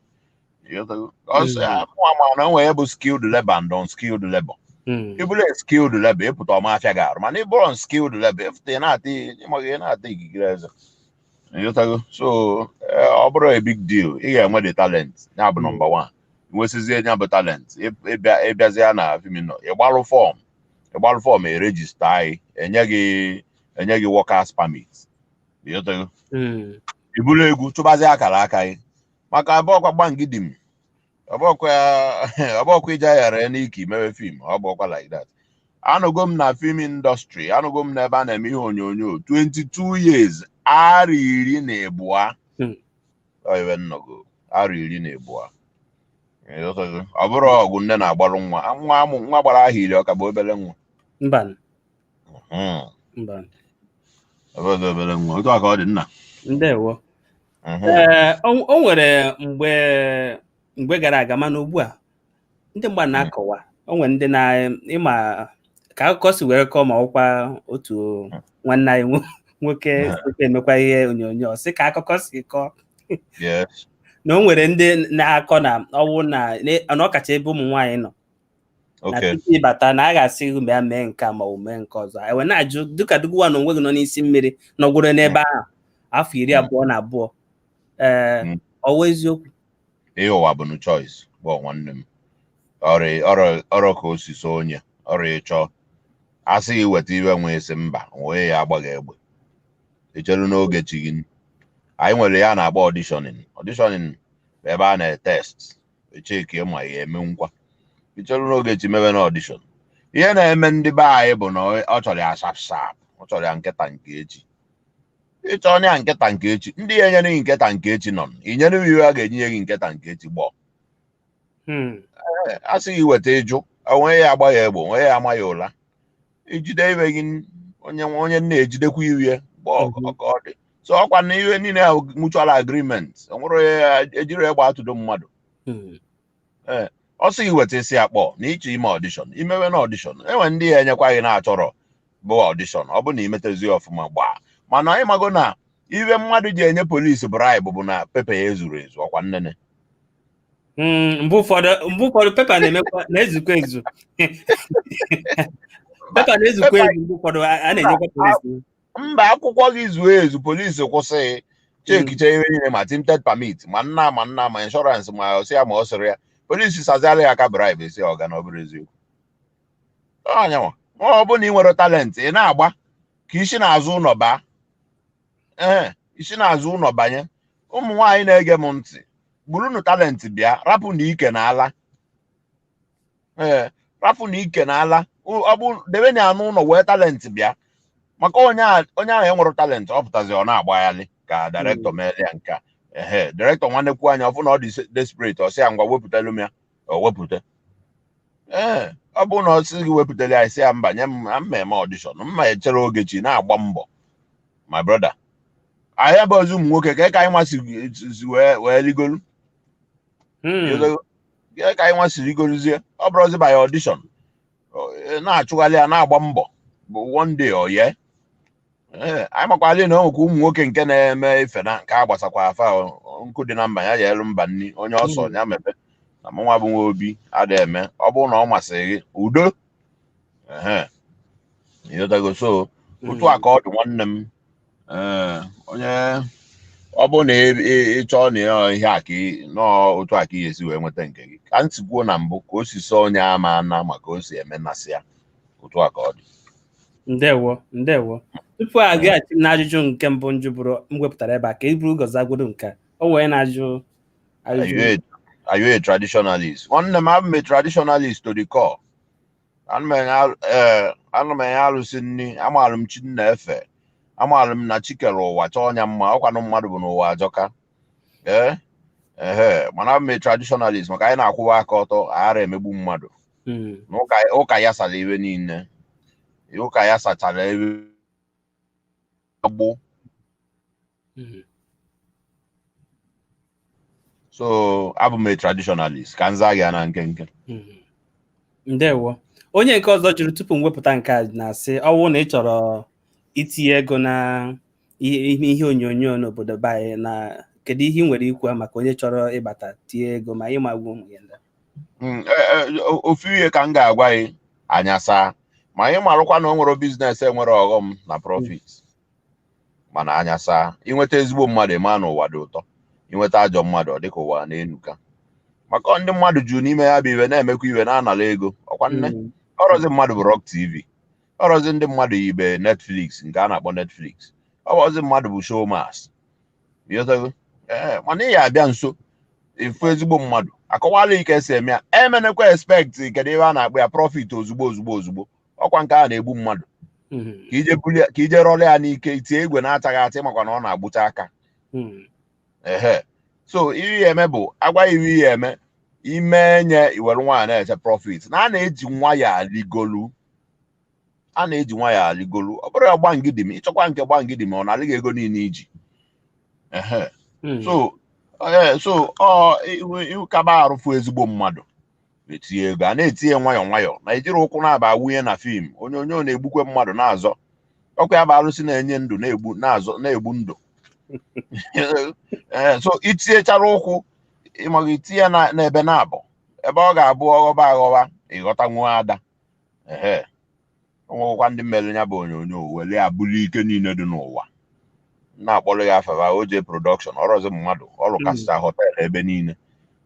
ọsọ ya mụ ama na o nwe ihe bụ skilled labor and unskilled labor Mm. ịbụrụ skilled labor ịpụta ọ ma afịa gị arụ mana ịbụrụ unskilled labor ịpụta ị na-ata ịmaghị ị na-ata ikikere eze ịghọtago so eh, ọ bụrọ a big deal ị ga-enwe the talent ya bụ nọmba one nwesizie ya bụ talent Ị- ịbịa ịbịazịa na fimino ịgbalụ fọm ịgbalụ fọm e rejistaa gị e nye gị enye gị workers permit ịghọtago Mm. i buru egwu chụbazi akara aka gị maka abụọkwa gbangidim ọ bụọkwa ọ bụọkwa iji aghara ya n'ike imewe fim ọ bụọkwa like that anọgo m na fim indọstrị anọgo m n'ebe a na-eme ihe onyonyo 22 years arọ iri na ịbụa Hmm. ọ ihe m nọgo arọ iri na ịbụa Ịghọtago? ọ bụrụ ọgụ nne na-agbarụ nwa nwa amụ nwa gbara ahọ iri ọ ka bụ obere nwa mba Hmm. mba ọ bụ obere nwa otu a ka ọ dị nna ndewo Mhm. Ee, o o nwere mgbe mgbe gara aga mana ugbu a ndị mgba na-akọwa o nwere ndị na ịma ka akụkọ si were kọọ ma ọkwa otu nwanne anyị nwo- nwoke Mhm. site emekwa ihe onyonyo ọ sị ka akụkọ si kọọ Yes. na o nwere ndị na-akọ na ọ wụ na na ọkacha ebe ụmụ nwaanyị nọ na tupu ị bata na a ga-asị gị bịa mee nke ma ọ mee nke ọzọ e wee na-ajụ dịka gịnwa na onwe gị nọ n'isi mmiri nọgwụrụ n'ebe ahụ afọ iri hmm. abụọ na abụọ ee hmm. ọ wụ eziokwu ihe ụwa bụ na choice bụ nwanne m ọrụ ka o si sọ onye ọrụ ịchọ a sị gị weta ihe i nwe ị sị mba nwee ya agba gị egbe i chere n'oge chi gị anyị nwere ihe a na-akpọ ọdishọnin ọdishọnin bụ ebe a na-etest echeki ma ya eme ngwa ichere n'oge chi mebe na ọdishọn ihe na-eme ndị be anyị bụ na ọ chọrọ ya sharp sharp ọ chọrọ ya nke taa nke echi ịchọ onye ya nke taa nke echi ndị ya enyere gị nke taa nke echi nọ i nyere m ihe a ga-enye gị nke taa nke echi gbọọ a sị gị weta ị jụ o nwe ya agba ya egbe o nwe ya ama ya ụla i jide ihe gị onye nwe onye nna ejidekwa ihe ya mgbe ọ Mhm. ọ ka ọ dị so ọkwa na ihe niile a bụ mutual agreement o nwere onye ya ejiri egbe atụdo mmadụ Mm. ọ sị gị weta ị sị ya kpọ na ị chọ ime ọdishọn i mewe na ọdishọn e nwe ndị ya enyekwa gị na-achọrọ bụ ọdishọn ọ bụ na i metazie ọfụma gbaa mana anyị mago na ihe mmadụ ji enye polisi braịbụ bụ na pepa ya ezurọ ezu ọkwa nnene Mm, mgbe ụfọdụ mgbe ụfọdụ pepa na-emekwa na-ezukwa ezu pepa na-ezukwa ezu mgbe ụfọdụ a a na-enyekwa polisi mba akwụkwọ gị zuo ezu polisi kwụsị chekichaa ihe niile ma tinted permit ma nna ma nna ma inshọransị ma ọ sị ya ma ọ sịrị ya polisi saziara ya aka bribe sị ọga na ọ bụrụ eziokwu ọnyanwa ọ bụ na ị nwere talent ị na-agba ka i si n'azụ ụlọ baa ee i si n'azụ ụlọ banye ụmụ nwaanyị na-ege m ntị burunu talent bịa rapụnụ ike na ala ee rapụnụ ike na ala ọ bụ debenụ ya n'ụlọ wee talent bịa maka onye ahụ enwerọ talent ọ pụtazie ọ na-agbaghalị ka direktọ meele ya nke a ehe direktọ nwa nekwuo anya ọ fụ na ọ dị desperate ọ sị ya ngwa wepụtalụ m ya o wepụta ee ọ bụrụ na ọ sị gị wepụtara ya ị sị ya mba nye m na m ma-eme ọdishọn m ma-echere oge chi na-agba mbọ my brother anyị bụzi ụmụ nwoke kee ka anyị nwa si wee wee rigolu Hmm. Kee ka anyị nwa si rigoluzie ọ bụrụzi by audition Ọ- ị na-achụgharị ya na-agba mbọ bụ one day ọ ye ee anyị makwala na o nwekwa ụmụ nwoke nke na-eme ife na nke a gbasakwaa fa o, nkụ dị na mba na-eyelu mba nri onye ọ sọ ya mebe na mụnwa bụ nwa obi ada eme ọ bụrụ na ọ masịrị gị udo ehe ịghọtago so otu a ka ọ dị nwanne m ee onye ọ bụrụ na ị- ị- ị chọọ na ya ihe a ka ị- nọọ otu a ka ị ga-esi wee nweta nke gị ka anyị si kwuo na mbụ ka o si sọ onye ama ana ma ka o si eme na-asị ya otu a ka ọ dị ndewo ndewo tupu agaghachi m n'ajụjụ nke mbụ m jụbụrụ m wepụtara ebe a ka e buru ụzọ zagodo nke a. o wee na-ajụ Are you ajụjụ a- are you a traditionalist? Nwanne m abụ m a traditionalist to the core. Ana m enye arụ- eh, ana m enye arụsị nri, amaara m chi m na-efe, amaara m na chi kere ụwa chọọ nya mma, ọkwanụ mmadụ bi n'ụwa ajọka. Ee, ehe, mana abụ m a traditionalist maka anyị na-akwụwa aka ọtọ, aghara emegbu mmadụ. Mm. na ụka ụka ya sara iwe niile ụka ya sachara iwe agbụ Mm. so abụ m a traditionalist ka m zaa gị na nkenke Mm. ndewo onye nke ọzọ jụrụ tupu m wepụta nke a na-asị ọwụ na ị chọrọ itinye ego na ihe ihe onyonyo n'obodo be anyị na kedu ihe ị nwere ikwu maka onye chọrọ ịbata tie ego ma ịma gwa ụmụ ya ndị hmm, e, e, ofu ihe ka m ga-agwa gị anya saa ma ị marụkwa na o nwere biznes enwere ọghọm na profit mana anya saa inweta ezigbo mmadụ ịma na ụwa dị ụtọ inweta ajọ mmadụ ọ dịka ụwa na-enuka maka ndị mmadụ juru n'ime ya bụ ife na-emekwa ife na-anala ego ọkwa nne hmm. ọrọzi mmadụ bụ ROK TV ọrọzi ndị mmadụ ibe netflix nke a na-akpọ netflix ọ bụrọzi mmadụ bụ Showmax ịghọtago ee mana ị ya abịa nso ị fụ ezigbo mmadụ akọwala ị ka esi eme ya emenekwa expect kedu ihe a na-akpọ ya profit ozugbo ozugbo ozugbo ọkwa nke a na-egbu mmadụ Mhm. ka ije bulie ka ije rọrọ ya n'ike itie igwe na-achaghị acha ị makwa na ọ na-agbụcha aka Mhm. ehe so ihe ị ya-eme bụ a gwa ị ihe eme ime nye i were nwayọọ na-eche prọfit na a na-eji nwayọọ arịgolu a na-eji nwayọọ arịgolu ọ bụrụ ya gbangidim ị chọkwa nke gbangidim ọ narị gị ego niile iji ehe so ee so ọ ihu ihu ka gbagharị fụ ezigbo mmadụ etinye ego a na-etinye nwayọọ nwayọọ na ejighị ụkwụ naabọ awụnye na fim onyonyo na-egbukwe mmadụ na-azọ ọkwa ya bụ arụsị na-enye ndụ na-egbu na-azọ na-egbu ndụ ee so itinyechara ụkwụ ịmaghị itinye na n'ebe naabọ ebe ọ ga-abụ ọghọba aghọba ịghọta nwa ada ehe o nwekwa ndị mere ya bụ onyonyo were ya bụrụ ike niile dị n'ụwa na-akpọrọ gị afa fa OJ production ọrọzi mmadụ ọ rụ Mm. kasịta họtel ebe niile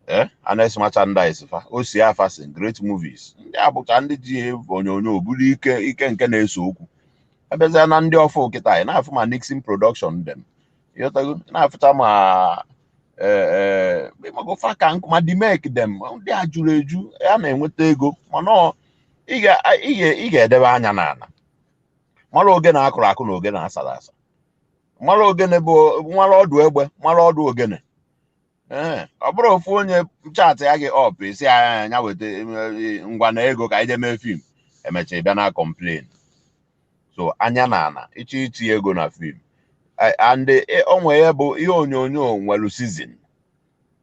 ee Annex Merchandise fa Ossy Affason great movies ndị a bụcha ndị ji ya bụ onyonyo bụrụ ike ike nke na-ese okwu abịazịa na ndị ọfụụ kịta anyị na-afụ ma nixon production dem ịghọtago na-afụta ma magofa ka nkụ ma dimek dem ndị a jụrụ eju a na-enweta ego mana ị ga-edebe anya n'ala mara ogene a kụrụ akụ na ogene a sara asa mara ogene bụ mara ọdụ egbe mara ọdụ ogene Ee, ọ bụrụ ofu onye chatịa gị up esi ya ya weta eh, ngwa na ego ka anyị jee mee fim emecha ị bịa na-complain so anya n'ana ịchọ iti ego na fim Eh, and eh, o nwere ya bụ ihe onyonyo nwere sizin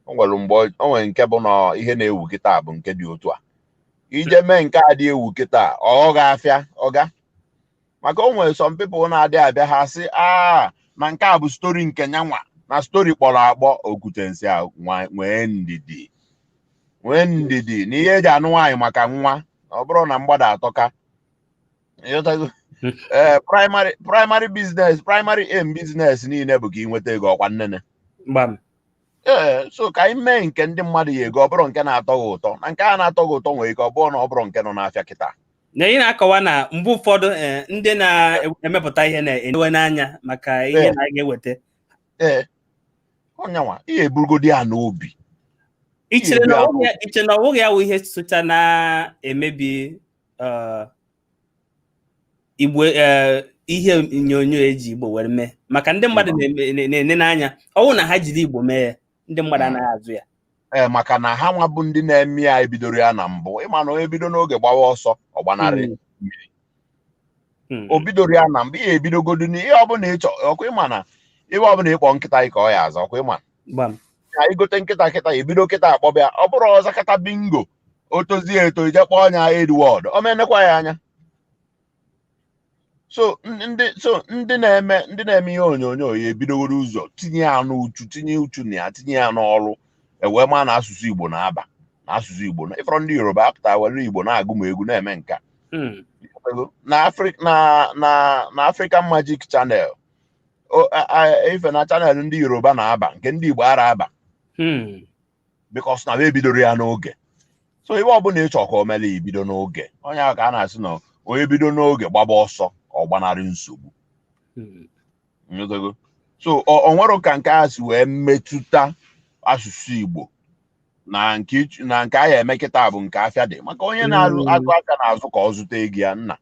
o nwere mgbe ọ- o nwere nke bụ na ihe na-ewu kịta bụ nke dị otu a i jee mee nke adị ewu kịta ọ gaa afịa ọga maka o nwere some people na-adị abịa ha sị aa na nke a bụ story nke nyanwa na story kpọrọ akpọ okwutensi a nwa- nwee ndidi nwee ndidi na ihe eji anụ nwaanyị maka nwa ọ bụrụ na mgbada atọka ịghọtago ee primary primary business primary em business niile bụ ka ị nweta ego ọkwa nnene gbam ee so ka anyị mee nke ndị mmadụ ya-ego ọ bụrọ nke na-atọ gị ụtọ na nke a na-atọ gị ụtọ nwere ike ọ bụrụ na ọ bụrọ nke nọ n'afịa kịta na ị na-akọwa na mgbe ụfọdụ eh, ndị na-emepụta ihe na-enewe n'anya maka ihe Ee. na a ga-eweta ee ọnyanwa ihe eburugodi ya n'obi i chere na Ihe ọwụghị ya- iche na ọwụghị ya wụ ihe socha na-emebi eh, Igbo eh, ihe onyonyo eji igbo were mee maka ndị mmadụ na-ene n'anya ọ wụ na ha jiri igbo mee ya ndị mmadụ anaghị azụ ya ee eh, maka na ha nwa bụ ndị na-eme ya ebidoro ya na mbụ ịma na onye bido n'oge gbawa ọsọ ọ gbanarị hmm. mmiri hmm. o bidoro ya na mbụ ihe ebidogodu n'ihe ọbụla ịchọ ọkwa ịma na ihe ọbụla ịkpọ nkịta ka ọ ya aza ọkwa ịma ka i gote nkịta kịta ebido kịta akpọba ya ọ bụrụ ọ zakata bingo o tozie eto i je kpọọ ya Edward ọ ma enekwa gị anya so ndị so ndị na-eme ndị na-eme ihe onyonyo ya ebidogoro ụzọ tinye ya n'uchu tinye uchu na ya tinye ya n'ọrụ ewee ma na asụsụ Igbo na-aba na asụsụ Igbo na ị fụrọ ndị Yoruba apụta were Igbo na-agụ egwu na-eme nka hmm. na African Magic Channel ị fụ na channel ndị Yoruba na-aba nke ndị Igbo ara aba hmm. because na ebidoro ya n'oge so ihe ọbụla ịchọ ka o mele gị bido n'oge onye ahụ ka a na-asị na onye bido n'oge gbaba ọsọ ọ gbanarị nsogbu so o nwere ka nke a si wee metụta asụsụ Igbo na nke a ya eme kịta bụ nke afịa dị maka onye na-azụ mm. afịa na-azụ ka ọ zụta ego ya nna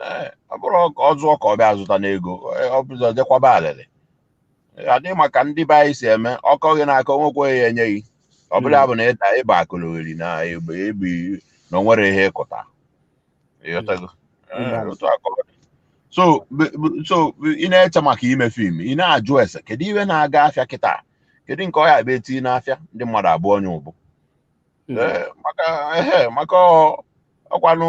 Ee, ọ bụrụ ka ọ zụọ ka ọ bịa zụta n'ego ee, ọ bụzọ jekwaba alịlị adịghị maka ndị be anyị si eme ọkọ gị n'aka onwekwe ya enye gị ọ bụla ya bụ na ịda ịba akụlụgheri na egbe egbe na o nwere ihe ịkụta ịghọtago Ee, otu a ka ọ dị. so b- b- so ị na-eche maka ime film ị na-ajụ ese kedu ihe na-aga afịa kịta kedu nke ọ ya-abụ eti n'afịa ndị mmadụ abụọ nya ụbụ Ee, maka ehe maka ọ- ọkwanụ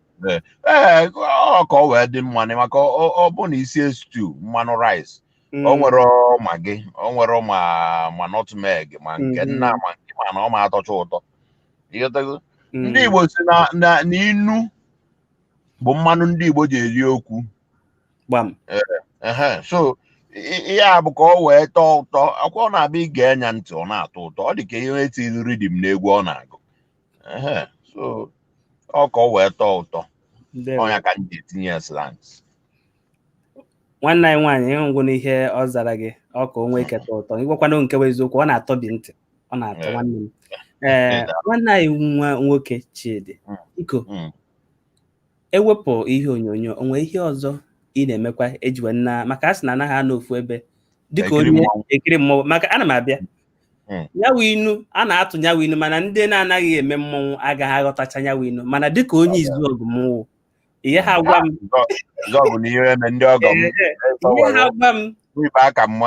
Ee, ee, ọ ka ọ wee dị mma na maka ọ ọ bụ na i sie stew manụ rice Mm. o nwerọ Maggi o nwerọ ma ma nutmeg ma nke Mhm. nna ma nke ma na ọ ma atọcha ụtọ ịghọtago Mm. ndị igbo si na na na inu bụ mmanụ ndị igbo ji eri okwu gbam ehe so i- ihe a bụ ka ọ wee tọọ ụtọ ọkwa ọ na-abụ i gee nya ntị ọ na-atọ ụtọ ọ dị ka ihe etiri rhythm n'egwu ọ na-agụ Ehe, so ọ ka ọ wee tọọ ụtọ ndewo ọ nya ka m ji etinye ya slangs nwanne anyị nwaanyị ịhụgwụ n'ihe ọ zara gị ọ ka o nwee ike tọọ ụtọ ịgwakwana nke bụ eziokwu ọ na-atọ bi ntị ọ na-atọ Yeah. nwanne m ee Yeah. nwanne anyị nwa nwoke Chidi Mm. biko Mm. ewepụ ihe onyonyo o nwee ihe ọzọ ị na-emekwa ejiwe nna maka a sị na a naghị anọ ofu ebe dịka Ekiri onye mmọnwụ. ekiri mmọnwụ maka ana m abịa hmm. nyawa inu a na-atụ nyawa inu mana ndị na-anaghị eme mmọnwụ agaghị aghọtacha nyawa inu mana dịka onye Izuọgụ m wụ ihe ha gwa m ihe ha gwa m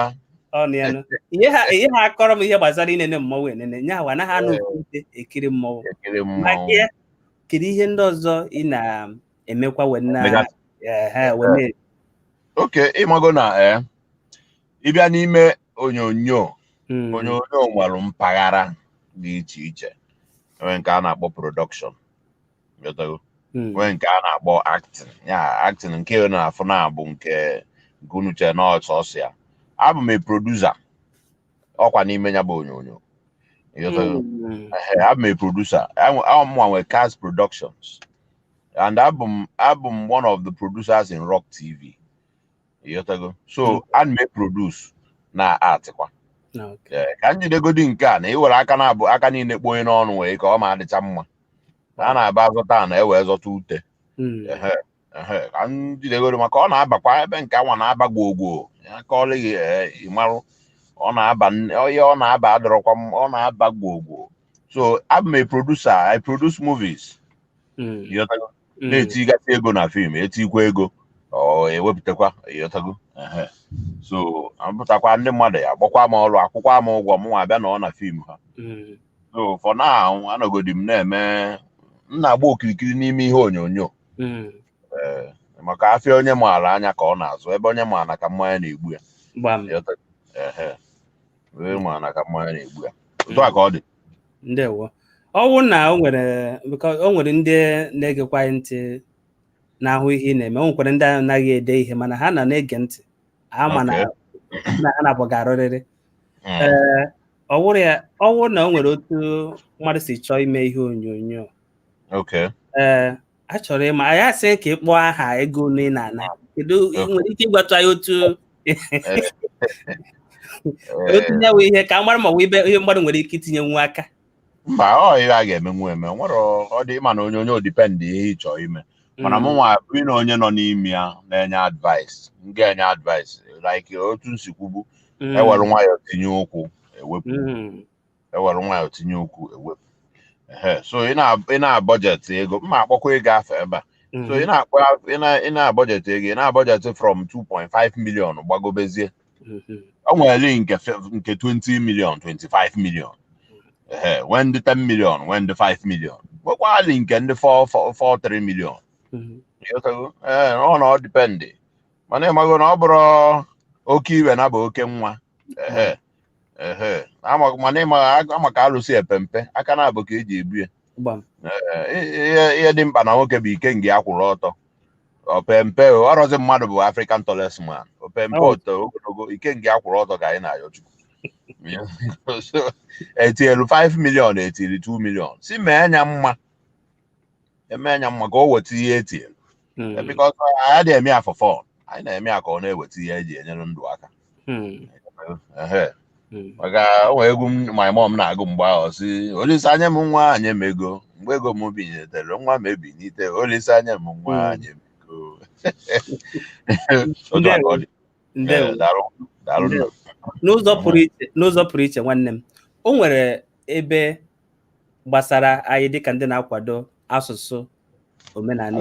ihe ha ihe ha kọrọ m ihe gbasara inene mmọnwụ enene nya awa anaghị anọ otu ebe ekiri mmọnwụ kedu ihe ndị ọzọ ị na-emekwa wee na okay ị mago na eh, ịbịa n'ime onyonyo Mm. onyonyo nwere mpaghara dị iche iche e nwee nke a na-akpọ production ị ghọtago? Mm. nwee nke a na-akpọ acting ya acting nke ị na-afụ na-abụ nke nke unu chere na ọ sọsọ ya abụ m a producer ọkwa n'ime ya bụ onyonyo Ịghọtago? Mm. Ehe, abụ m a producer Ọ mụ nwa nwe Kas Productions and abụ m abụ m one of the producers in ROK TV ịghọtago so a na m eproduce na-actịkwa na ok Ee, ka m jidegodi nke a na i were aka na-abụ aka niile kpoo ihe n'ọnụ nwee ka ọ ma adịcha mma a na-aba azọta ana e wee zọta ute Mm. Ehe, ehe, ka m jidegodi maka ọ na-abakwa ebe nke a nwa na-aba gwogwo ya ka ọ lịghị ee, ị marụ ọ na-aba nne- ọ- ihe ọ na-aba adọrọkwa m ọ na-aba gwogwo so abụ m a producer I produce movies Mm. ịghọtago Mm. na-etigasị ego na fim e tikwa ego e wepụtakwa ịghọtago Ehe. so a pụtakwa ndị mmadụ ya gbakwa m ọrụ akwụkwa m ụgwọ m nwa abịa nọọ na fim ha Mm. so for now anọgodi m na-eme m na-agba okirikiri n'ime ihe onyonyo Mm. ee maka afịa onye maara anya ka ọ na-azụ ebe onye maara ka mmanya na-egbu ya gbam ịghọtago? Ehe. onye ma na ka mmanya na-egbu ya otu a ka ọ dị ndewo ọ wụrụ na o nwere because o nwere ndị na-egekwa anyị ntị na-ahụ ihe ị na-eme o nwekwara ndị anaghị ede ihe mana ha na na-ege ntị ha ma na Okay. na ha na-abụ ga-arụrịrị Mm. ee ọ wụrụ ya ọ wụrụ na o nwere otu mmadụ si chọọ ime ihe onyonyo okay ee a chọrọ ịma anyị asị ka ị kpọọ aha ego ole ị na-ana kedu ị nwere ike ịgwatụ anyị otu otu ya wee ihe ka a mara ma ọ bụ ibe ihe mmadụ nwere ike itinyenwu aka mba ọ ihe a ga-emenwu eme o nwere ọ dị ị ma na onyonyo ọ depend ihe ị chọọ ime mana mụ nwa bụrụ na onye nọ n'ime ya na-enye advice m ga-enye advice like otu m si kwubu Mm, e were nwayọọ tinye ụkwụ e wepụ mm, ewere nwayọ tinye ukwu ewepụ ehe so ị na- ị na-abọjetị ego m ma-akpọkwa ego afa ebe a so ị na-akpọ ị na- ị na-abọjetị ego ị na-abọjetị from 2.5 million gbagobezie o nweli nke fe- nke 20 million 25 million ehe nwee ndị 10 million nwee ndị 5 million nwekwaali nke ndị 4 4 4 3 million Ịghọtago? Ee, ọ na ọ dipendị mana ịmago na ọ bụrọ oke iwe na-abụ oke nwa Ehe. mana ịmaghị ama ka alụsị epe mpe aka naabọ ka eji ebu ya ihe dị mkpa na nwoke bụ ikenga ya kwụrụ ọtọ o pe mpe ọrọzi mmadụ bụ African tallest man o pe mpe o to ogologo ikenga ya kwụrụ ọtọ ka anyị na-ayọ chukwu etinyelu 5 million etinyelu 2 million sị mee nya mma eme nya mma ka o weta ihe etinye Mm. bikọs anyị adịghị eme ya for fun anyị na-eme ya ka ọ na-eweta ihe eji enyere ndụ aka Mm. Ehe. Mm. maka o nwere egwu m- my mom na-agụ mgbe ahụ sị Olisa nye m nwa nye m ego mgbe ego m binitere nwa m ebinite Olisa nye m nwa Mm. nye m ego Otu a ka ọ dị. Ndewo. Eh, daalụ daalụ nna. Ndewo. n'ụzọ pụrụ iche n'ụzọ pụrụ iche nwanne m o nwere ebe gbasara anyị dịka ndị na-akwado asụsụ omenala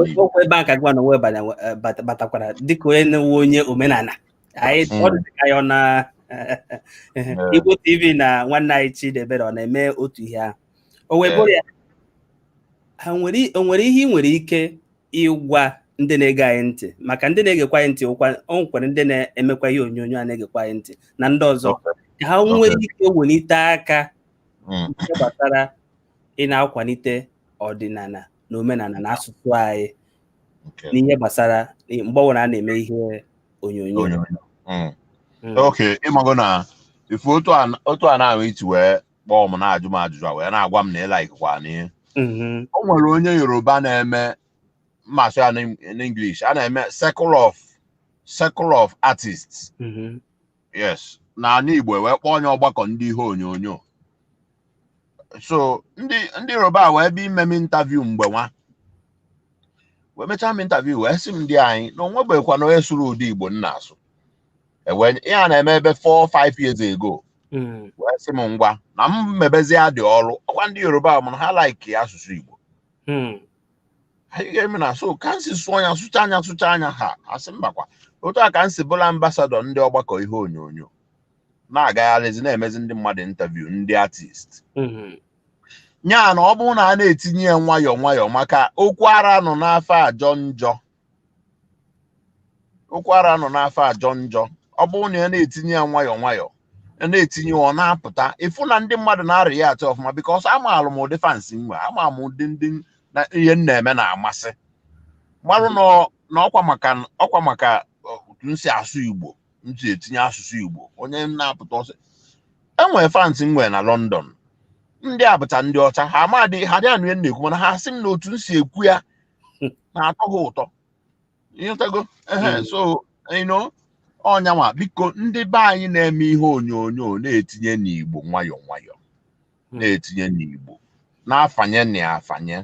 Igbo ọkwa ebe a ka gịnwa onwe batakwara dịka onye na-ewu onye omenala anyị hmm. ọ dịka anyị ọ na Igbo TV na nwanne anyị Chidiebere ọ na-eme otu ihe ahụ o wee bụrụ ya o nwere ihe ị nwere ike ịgwa ndị na-ege anyị ntị maka ndị na-egekwa anyị ntị ọkwa o nwekwara ndị na-emekwa ihe onyonyo a na-egekwa anyị ntị na ndị ọzọ ka ha nwee Okay. ike welite aka Mm. ihe gbasara ị na-akwalite ọdịnala na omenala na asụsụ anyị Okay. n'ihe gbasara mgbe ọbụla a na-eme ihe onyonyo Onyonyo. Mm. Mm. Okay, ịmago na ị fụ otu a otu a na-ahụ iti wee kpọọ m na-ajụ m ajụjụ a wee na-agwa m na ịlaikwa na ihe mhm. o nwere onye yoruba na-eme m ma-asụ ya n'English a na-eme circle of circle of artists mhm. yes na ala Igbo e wee kpọọ nya ọgbakọ ndị ihe onyonyo so ndị ndị yoruba wee bịa ime m interview mgbe nwa wee mechaa m interview wee sị m di anyị na o nwebeghịkwa onye sụrụ ụdị Igbo m na-asụ ewee nye- ihe a na-eme ebe 4 5 years ago Mm. wee sị m ngwa na m mebezie ụdị ọrụ ọkwa ndị yoruba mana ha like asụsụ igbo Mm. anyị ga-eme na so ka m si sụọ nya sụcha nya sụcha nya ha asị mbakwa otu a ka m si bụlụ ambasadọ ndị ọgbakọ ihe onyonyo na-agagharịzi na-emezi ndị mmadụ interview ndị artist Mm. nya na ọ bụrụ na a na-etinye ya nwayọọ nwayọọ maka okwu ara nọ n'afọ ajọ njọ ụkwara anọ n'afọ ajọ njọ ọ bụrụ na a na-etinye ya nwayọọ nwayọọ ya na-etinye ọ na-apụta ị fụ na ndị mmadụ na-react ọfụma because amaala m ụdị fans m nwe ama m ụdị ndị na ihe m na-eme na-amasị marụ na ọ- na ọkwa maka ọkwa maka ọ, otu m si asụ igbo m si etinye asụsụ igbo onye m na-apụta because enwere fans m nwe na London ndị abụta ndị ọcha ha amadị ha adị anụ ihe m na-ekwu mana ha sị m na otu m si ekwu ya na-atọ ha ụtọ ị ghọtago ehe Mm. so you know ọ nya nwa biko ndị be anyị na-eme ihe onyonyo na-etinye nụ igbo nwayọọ nwayọọ Mm. na-etinye nụ igbo na-afanye nụ ya afanye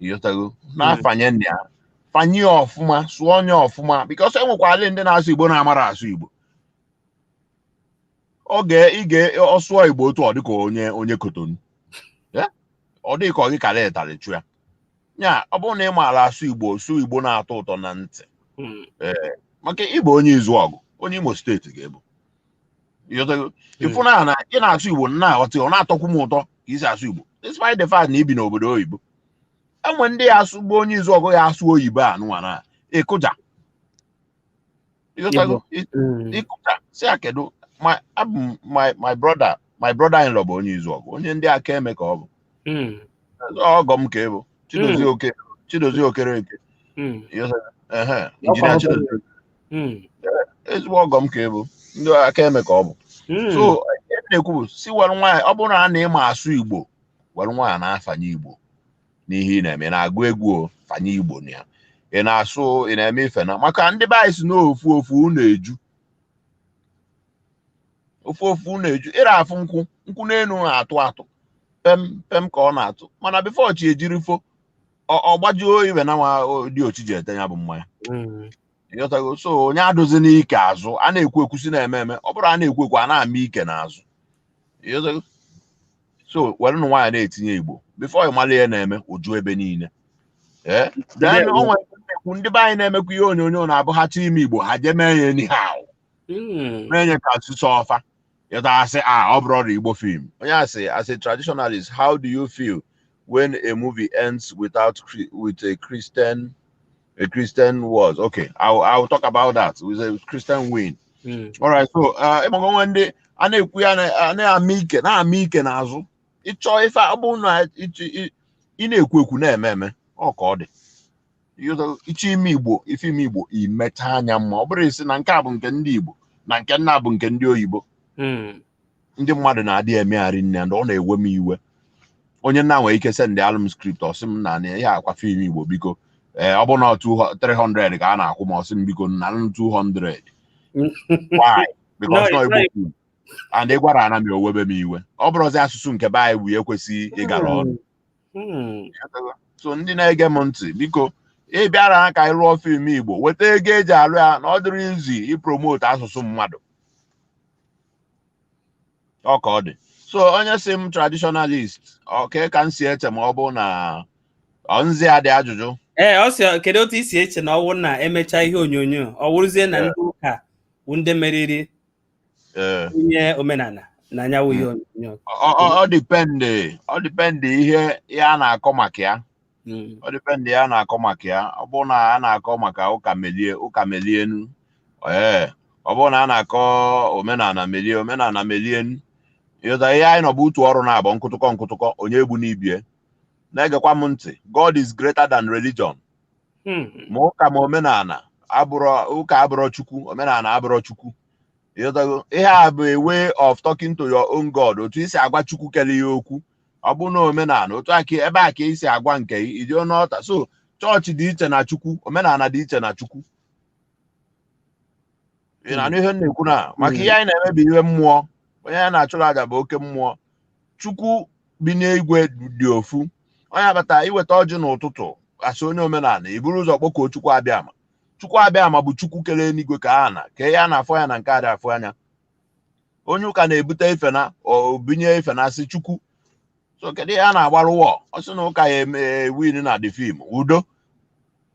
ị ghọtago na-afanye nụ ya fanye ya ọfụma sụọ nụ ya ọfụma because e nwekwara ndị na-asụ igbo na-amarọ asụ igbo ọ ga ị ga ọ sụọ igbo otu ọ dịka onye onye kotonu Ya? ọ dị gị ka ọ gị kara ụtarị chụ ya ya ọ bụrụ na ị maara asụ igbo sụ igbo na-atọ ụtọ na ntị Mm. maka ị bụ onye izuọgụ onye imo state ga-ebu Ị ghọtago? ị fụ na na ị na-asụ igbo na aghọta ọ na-atọkwu m ụtọ ka i si asụ igbo despite the fact na i bi n'obodo oyibo e nwe ndị ya asụ bụ onye izuọgụ ya asụ oyibo a nụwa na ị kụja ị ghọtago Mm. ị kụja sị ya kedu my abụ m my my brother my brother in law bụ onye izuọgụ onye ndị akaeme ka ọ bụ Mm. ọgọ m ka ị bụ chidozie oke chidozie okereke Mm. ịghọtago? Ehe, engineer chidozie Mm. ezigbo ọgọ m ka ị bụ ndị akaeme ka ọ bụ Mm. so ihe m na-ekwu bụ sị were nwayọọ ọ bụrụ na a na ị ma asụ igbo were nwayọọ na-afanye igbo n'ihe ị na-eme ị na-agụ egwu o fanye igbo na ya ị na-asụ ị na-eme ife na maka ndị be anyị sị na ofu ofu unu eju ofu ofu unu eju ị ra afụ nkwụ nkwụ n'elu na-atụ atụ pem pem ka ọ na-atụ mana before chi ejiri fo ọ- ọ gbajuo ebele nwa o- diochi ji ete ya bụ mmanya Mm. ị ghọtago so onye adụzi n'ike azụ a na-ekwu ekwu sị na-eme eme ọ bụrụ a na-ekwu ekwu a na-ama ike n'azụ ị ghọtago so were nụ nwayọọ na-etinye igbo before ị mara ihe na-eme o ju ebe niile ee then o nwere ndị na-ekwu ndị be anyị na-emekwa ihe onyonyo na-abụ ha chọọ ime igbo ha jee mee ya anyhow Mm. mee ya ka asụsụ ọfa ịta asị a ọ bụrụ ọrụ igbo film onye asị as a traditionalist how do you feel when a movie ends without Chri- with a christian A Christian was okay. I'll I'll talk about that. With a Christian win. Mm. All right. So uh, ị mago e nwe ndị a na-ekwu ya na- a na-ama ike na-ama ike n'azụ ị chọọ ife ọ bụna ịchị- ị ị na-ekwu ekwu na-eme eme ọ ka ọ dị You know, ị chọọ ime igbo ife ime igbo i mechaa ya mma ọ bụrụ ị sị na nke a bụ nke ndị igbo na nke nna bụ nke ndị oyibo Mm. ndị mmadụ na-adị emegharị nne and ọ na-ewe m iwe onye nna nwere ike sendalụ m script ọ sị m na na ya akwa film igbo biko ee ọ bụ na 300 ka a na-akwụ m ọ sị m biko nanụ 200 why because No, no it's igbo not- film and ị gwara ana m o webe m iwe ọ bụrụzi asụsụ nke be anyị bụ ya ekwesịghị ịgara ọnụ Hmm. so ndị na-ege m ntị biko ị bịara ha ka anyị lụọ film igbo weta ego e ji alụ ya na ọ dịrọ easy ịpromote asụsụ mmadụ ọ ka ọ dị so onye si m traditionalist okay ka m si eche ma ọ bụ na nzi adị ajụjụ ee ọ sị kedu otu i si eche na ọ wụrụ na e mechaa ihe onyonyo ọ wụrụzie na ndị ụka bụ ndị meriri onye omenala na nya wụ ihe hmm. onyonyo ọ depend ọ depend ihe a na-akọ maka ya Mm. ọ depend ihe a na-akọ maka ya ọ bụrụ na a na-akọ maka ụka melie ụka melienụ ee ọ bụrụ na a na-akọ omenala melie omenala melienụ ị ghọta ihe anyị nọ bụ utu ọrụ na-abụ nkụtụkọ nkụtụkọ onye egbuna ibe ya na-egekwa m ntị God is greater than religion Mm. ma ụka ma omenala abụrọ ụka abụrọ chukwu omenala abụrọ chukwu ị ghọtago ihe a bụ a way of talking to your own God otu i si agwa chukwu kele ya okwu ọ bụ na omenala otu a ka ebe a ka i si agwa nke gị ị ghọta so chọọchị dị iche na chukwu omenala dị iche na chukwu ị na-anụ ihe m na-ekwu na maka ihe anyị na-eme bụ ihe mmụọ onye anyị na-achụrụ aja bụ oke mmụọ chukwu bi n'igwe dị ofu onye a bata i weta ọjị n'ụtụtụ a sị onye omenala i buru ụzọ kpọkuo chukwu abịama chukwu abịama bụ chukwu kere eluigwe kee ana kee ihe a na-afụ anya na nke a dịghị afụ anya onye ụka na-ebute ife na obinye ife na-asị chukwu so kedu ihe a na-agbarụ wọ ọ sị na ụka ya eme win na the film udo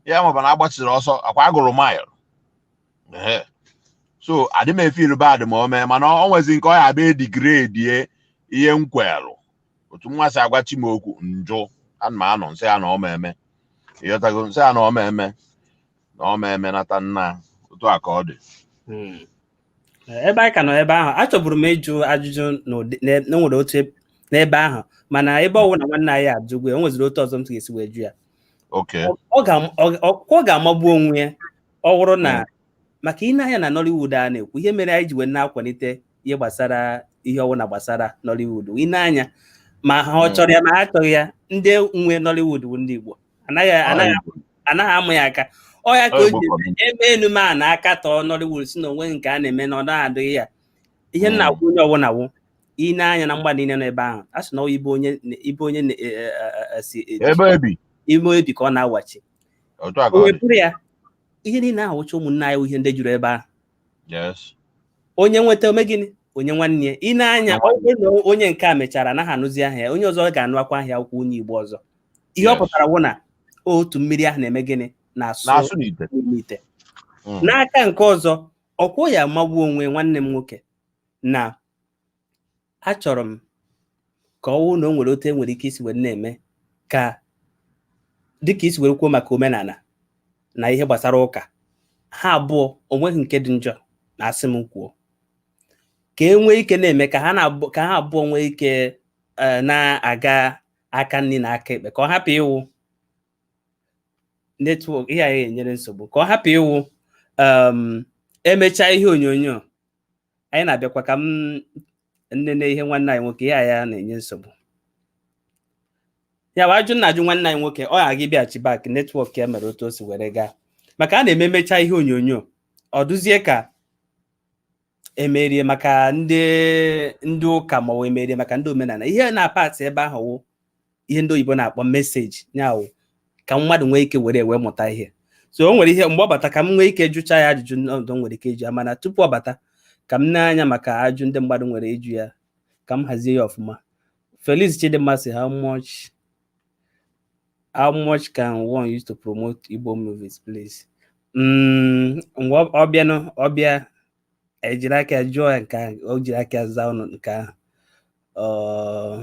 ya maba na agbachiri ọsọ akwa agụrụ mile Ehe. so adị m efeel bad ma o mee mana ọ nwezi nke ọ ya-abịa degradie ihe m kwelụ otu mụwa si agwa chi m okwu m jụ ana m anọ m sị ya na ọ ma eme ị ghọtago m sị ya na ọ ma eme na ọ ma eme nata nna otu a ka ọ dị Mm. ebe anyị ka nọ ebe ahụ achọburu m ịjụ ajụjụ na e nwere otu e, n'ebe ahụ mana ebe ọ wụ na nwanne anyị ajụgo ya o nweziri otu ọzọ m ga-esi wee jụ ya ọ ga-amagbu onwe ya ọ wụrụ na hmm. maka i nee anya na Nollywood a na-ekwu ihe mere anyị ji wee na-akwalite ihe gbasara ihe ọwụna gbasara Nollywood i nee anya ma ha hmm. chọrọ ya ma ha achọghị ya ndị nwe Nollywood bụ ndị Igbo anaghị anaghị anaghị amụ ya aka ọ ya ka o ji eme ị nụ ma a na-akatọ Nollywood sị na o nweghị nke a na-eme na ọ naghị adịghị ya ihe m na-agwa onye ọwụna wụ i nee anya na mgba niile nọ ebe ahụ a sị na ebe onye ebe onye si ime ebi ka ọ na-awachi o wepụrụ ya ihe niile ahụ wụcha ụmụnne anyị ihe ndị juru ebe ahụ onye nweta o mee gịnị o nye nwanne ya ị nee anya onye nke a mechara anaghị anụzi aha ya onye ọzọ ga-anụkwa aha ya akwụkwọ onye igbo ọzọ ihe ọ pụtara wụ na otu mmiri ahụ na-eme gịnị na-asụ n'ite mm. n'aka nke ọzọ okwu ya magbuo onwe nwanne m nwoke na achọrọ m ka ọ wụ na o nwere otu e nwere ike isi were na-eme ka dịka i si were kwuo maka omenala na ihe gbasara ụka ha abụọ o nweghị nke dị njọ na asị m kwuo ka e nwee ike na-eme ka ha ka ha abụọ nwee ike e, na-aga aka nri na aka ekpe ka ọ hapụ ịwụ network ihe anyị enyere nsogbu ka ọ hapụ ịwụ um, emechaa ihe onyonyo anyị na-abịakwa ka m nene ihe nwanne anyị nwoke ya ya na-enye nsogbu ya wụ ajụ m na-ajụ nwanne anyị nwoke ọ ghaghị ịbịaghachi back network ya mere otu o si were gaa maka a na-eme emecha ihe onyonyo ọ dịzie ka e mere ya maka ndị ndị ụka ma ọ wụ e mere ya maka ndị omenala ihe na-apụta ebe ahụ wụ ihe ndị oyibo na-akpọ message ya wụ ka mmadụ nwee ike were wee mụta ihe so o nwere ihe mgbe ọ bata ka m nwee ike jụcha ya ajụjụ ọzọ m nwere ike ịjụ ya mana tupu ọ bata ka m nee anya maka ajụ ndị mmadụ nwere ịjụ ya ka m hazie ya ọfụma Felix Chidimma sị how much how much can one use to promote Igbo movies please mm, ọ bịanụ ọ bịa i jiri aka jụọ ya nke ahụ o jiri aka zaa ụnụ nke ahụ uh,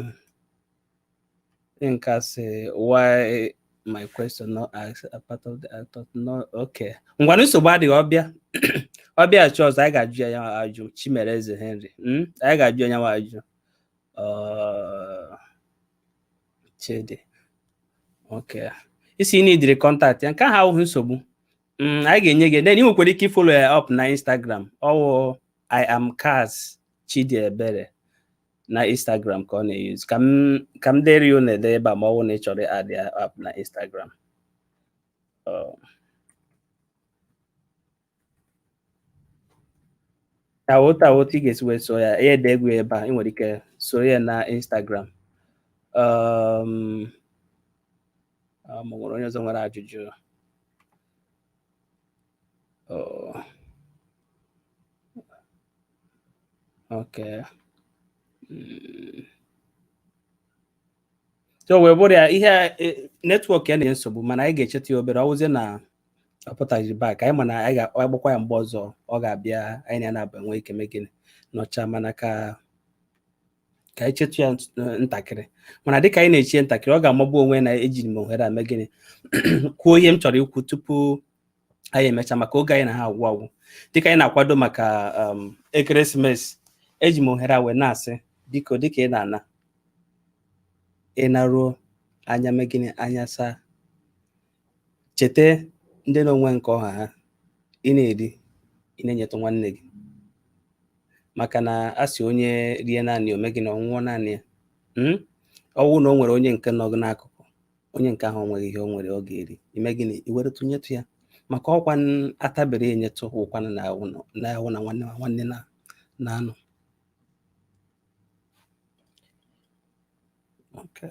Nke a sị why my question not asked a part of the I thought no okay. Ngwa nsogbu adịghị ọ bịa ọ bịa just anyị ga-ajụ ya nyanwa ajụ Chimereze Henry mm? anyị ga-ajụ ya nyanwa ajụ uh, Chidi okay ị sị ị needịrị contact ya nke ahụ awụghị nsogbu mm, anyị ga-enye gị then ị nwekwara ike ịfollow ya up na Instagram ọ wụ I am Kaz Chidi Ebere na Instagram ka ọ na-use ka m ka m dere ya na-ede ebe a ma ọ wụ na ị chọrọ ịadd ya up na Instagram otu a wụ otu a wụ otu ị ga-esi wee soo ya ya e dego ebe a ị nwere ike iso ya na Instagram um, um, o nwere onye ọzọ nwere ajụjụ Oh. Okay. Mm. so wee bụrụ ya ihe e, network ya na-enye nsogbu mana anyị ga-echetụ ya obere ọ wụzie na ọ pụtaghị back anyị ma na anyị ga-agbakwa ya mgbe ọzọ ọ ga-abịa anyị na ya naabọ enwee ike mee gịnị nọchaa mana ka ka anyị chetụ ya ntakịrị mana dịka anyị na-eche ya ntakịrị ọ ga-amagbu onwe na eji m ohere a mee gịnị kwuo ihe m chọrọ ikwu tupu anyị emecha maka oge anyị na-aga agwụ agwụ dịka anyị na-akwado maka um, ekeresimesi eji m ohere a wee na-asị biko dịka ị na-ana ị naruo anya mee gịnị anya saa cheta ndị na-enweghị nke ọ ha ha ị na-eri ị na-enyetụ nwanne gị maka na a sị onye rie naanị ya o mee gịnị ọ nwụọ naanị ya hmm? ọ wụ na o nwere onye nke nọ gị n'akụkụ onye nke ahụ nweghị ihe o nwere ọ ga-eri i mee gịnị i were tụnyetụ ya maka ọ kwa a tabiri e nyetụ ọ kwa na-awụ na nwanne ma nwanne na-anọ Okay.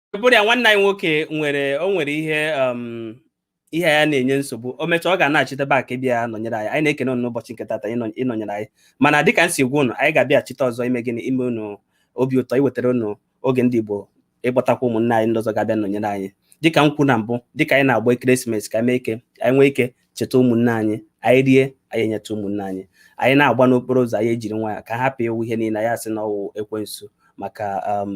bụrụ ya nwanne anyị nwoke nwere o nwere ihe um, ihe ya na-enye nsogbu o mechaa ọ ga-anachite back bịa nọnyere anyị anyị na-ekene unu n'ụbọchị nke tata ịnọnyere anyị mana dịka m si gwa unu anyị ga-abịachite ọzọ ime gịnị ime unu obi ụtọ iwetara unu oge ndị Igbo ịkpọtakwa ụmụnne anyị ndị ọzọ ga-abịa nọnyere anyị dịka m kwu na mbụ dịka anyị na-agba ekeresimesi ka anyị mee ike anyị nwere ike cheta ụmụnne anyị anyị rie anyị enyetụ ụmụnne anyị anyị na-agba n'okporo ụzọ anyị ejiri nwayọ ka anyị hapụ ịwụ ihe niile anyị asị na ọ wụ ekwensu maka um,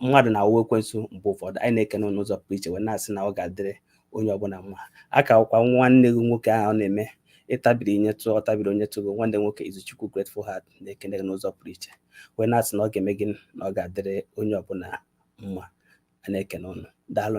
mmadụ na-awụ ekwensu mgbe ụfọdụ anyị na-ekene unu n'ụzọ pụrụ iche wee na-asị na ọ ga-adịrị onye ọbụla mma ọ ka wụkwa nwanne gị nwoke ahụ ọ na-eme ị tabiri nyetụ ọ tabiri o nyetụ gị nwanne nwoke Izuchukwu Grateful Heart na-ekene gị n'ụzọ pụrụ iche wee na-asị na ọ ga-eme gịnị ọ ga-adịrị onye ọbụla mma a na-ekene unu daalụ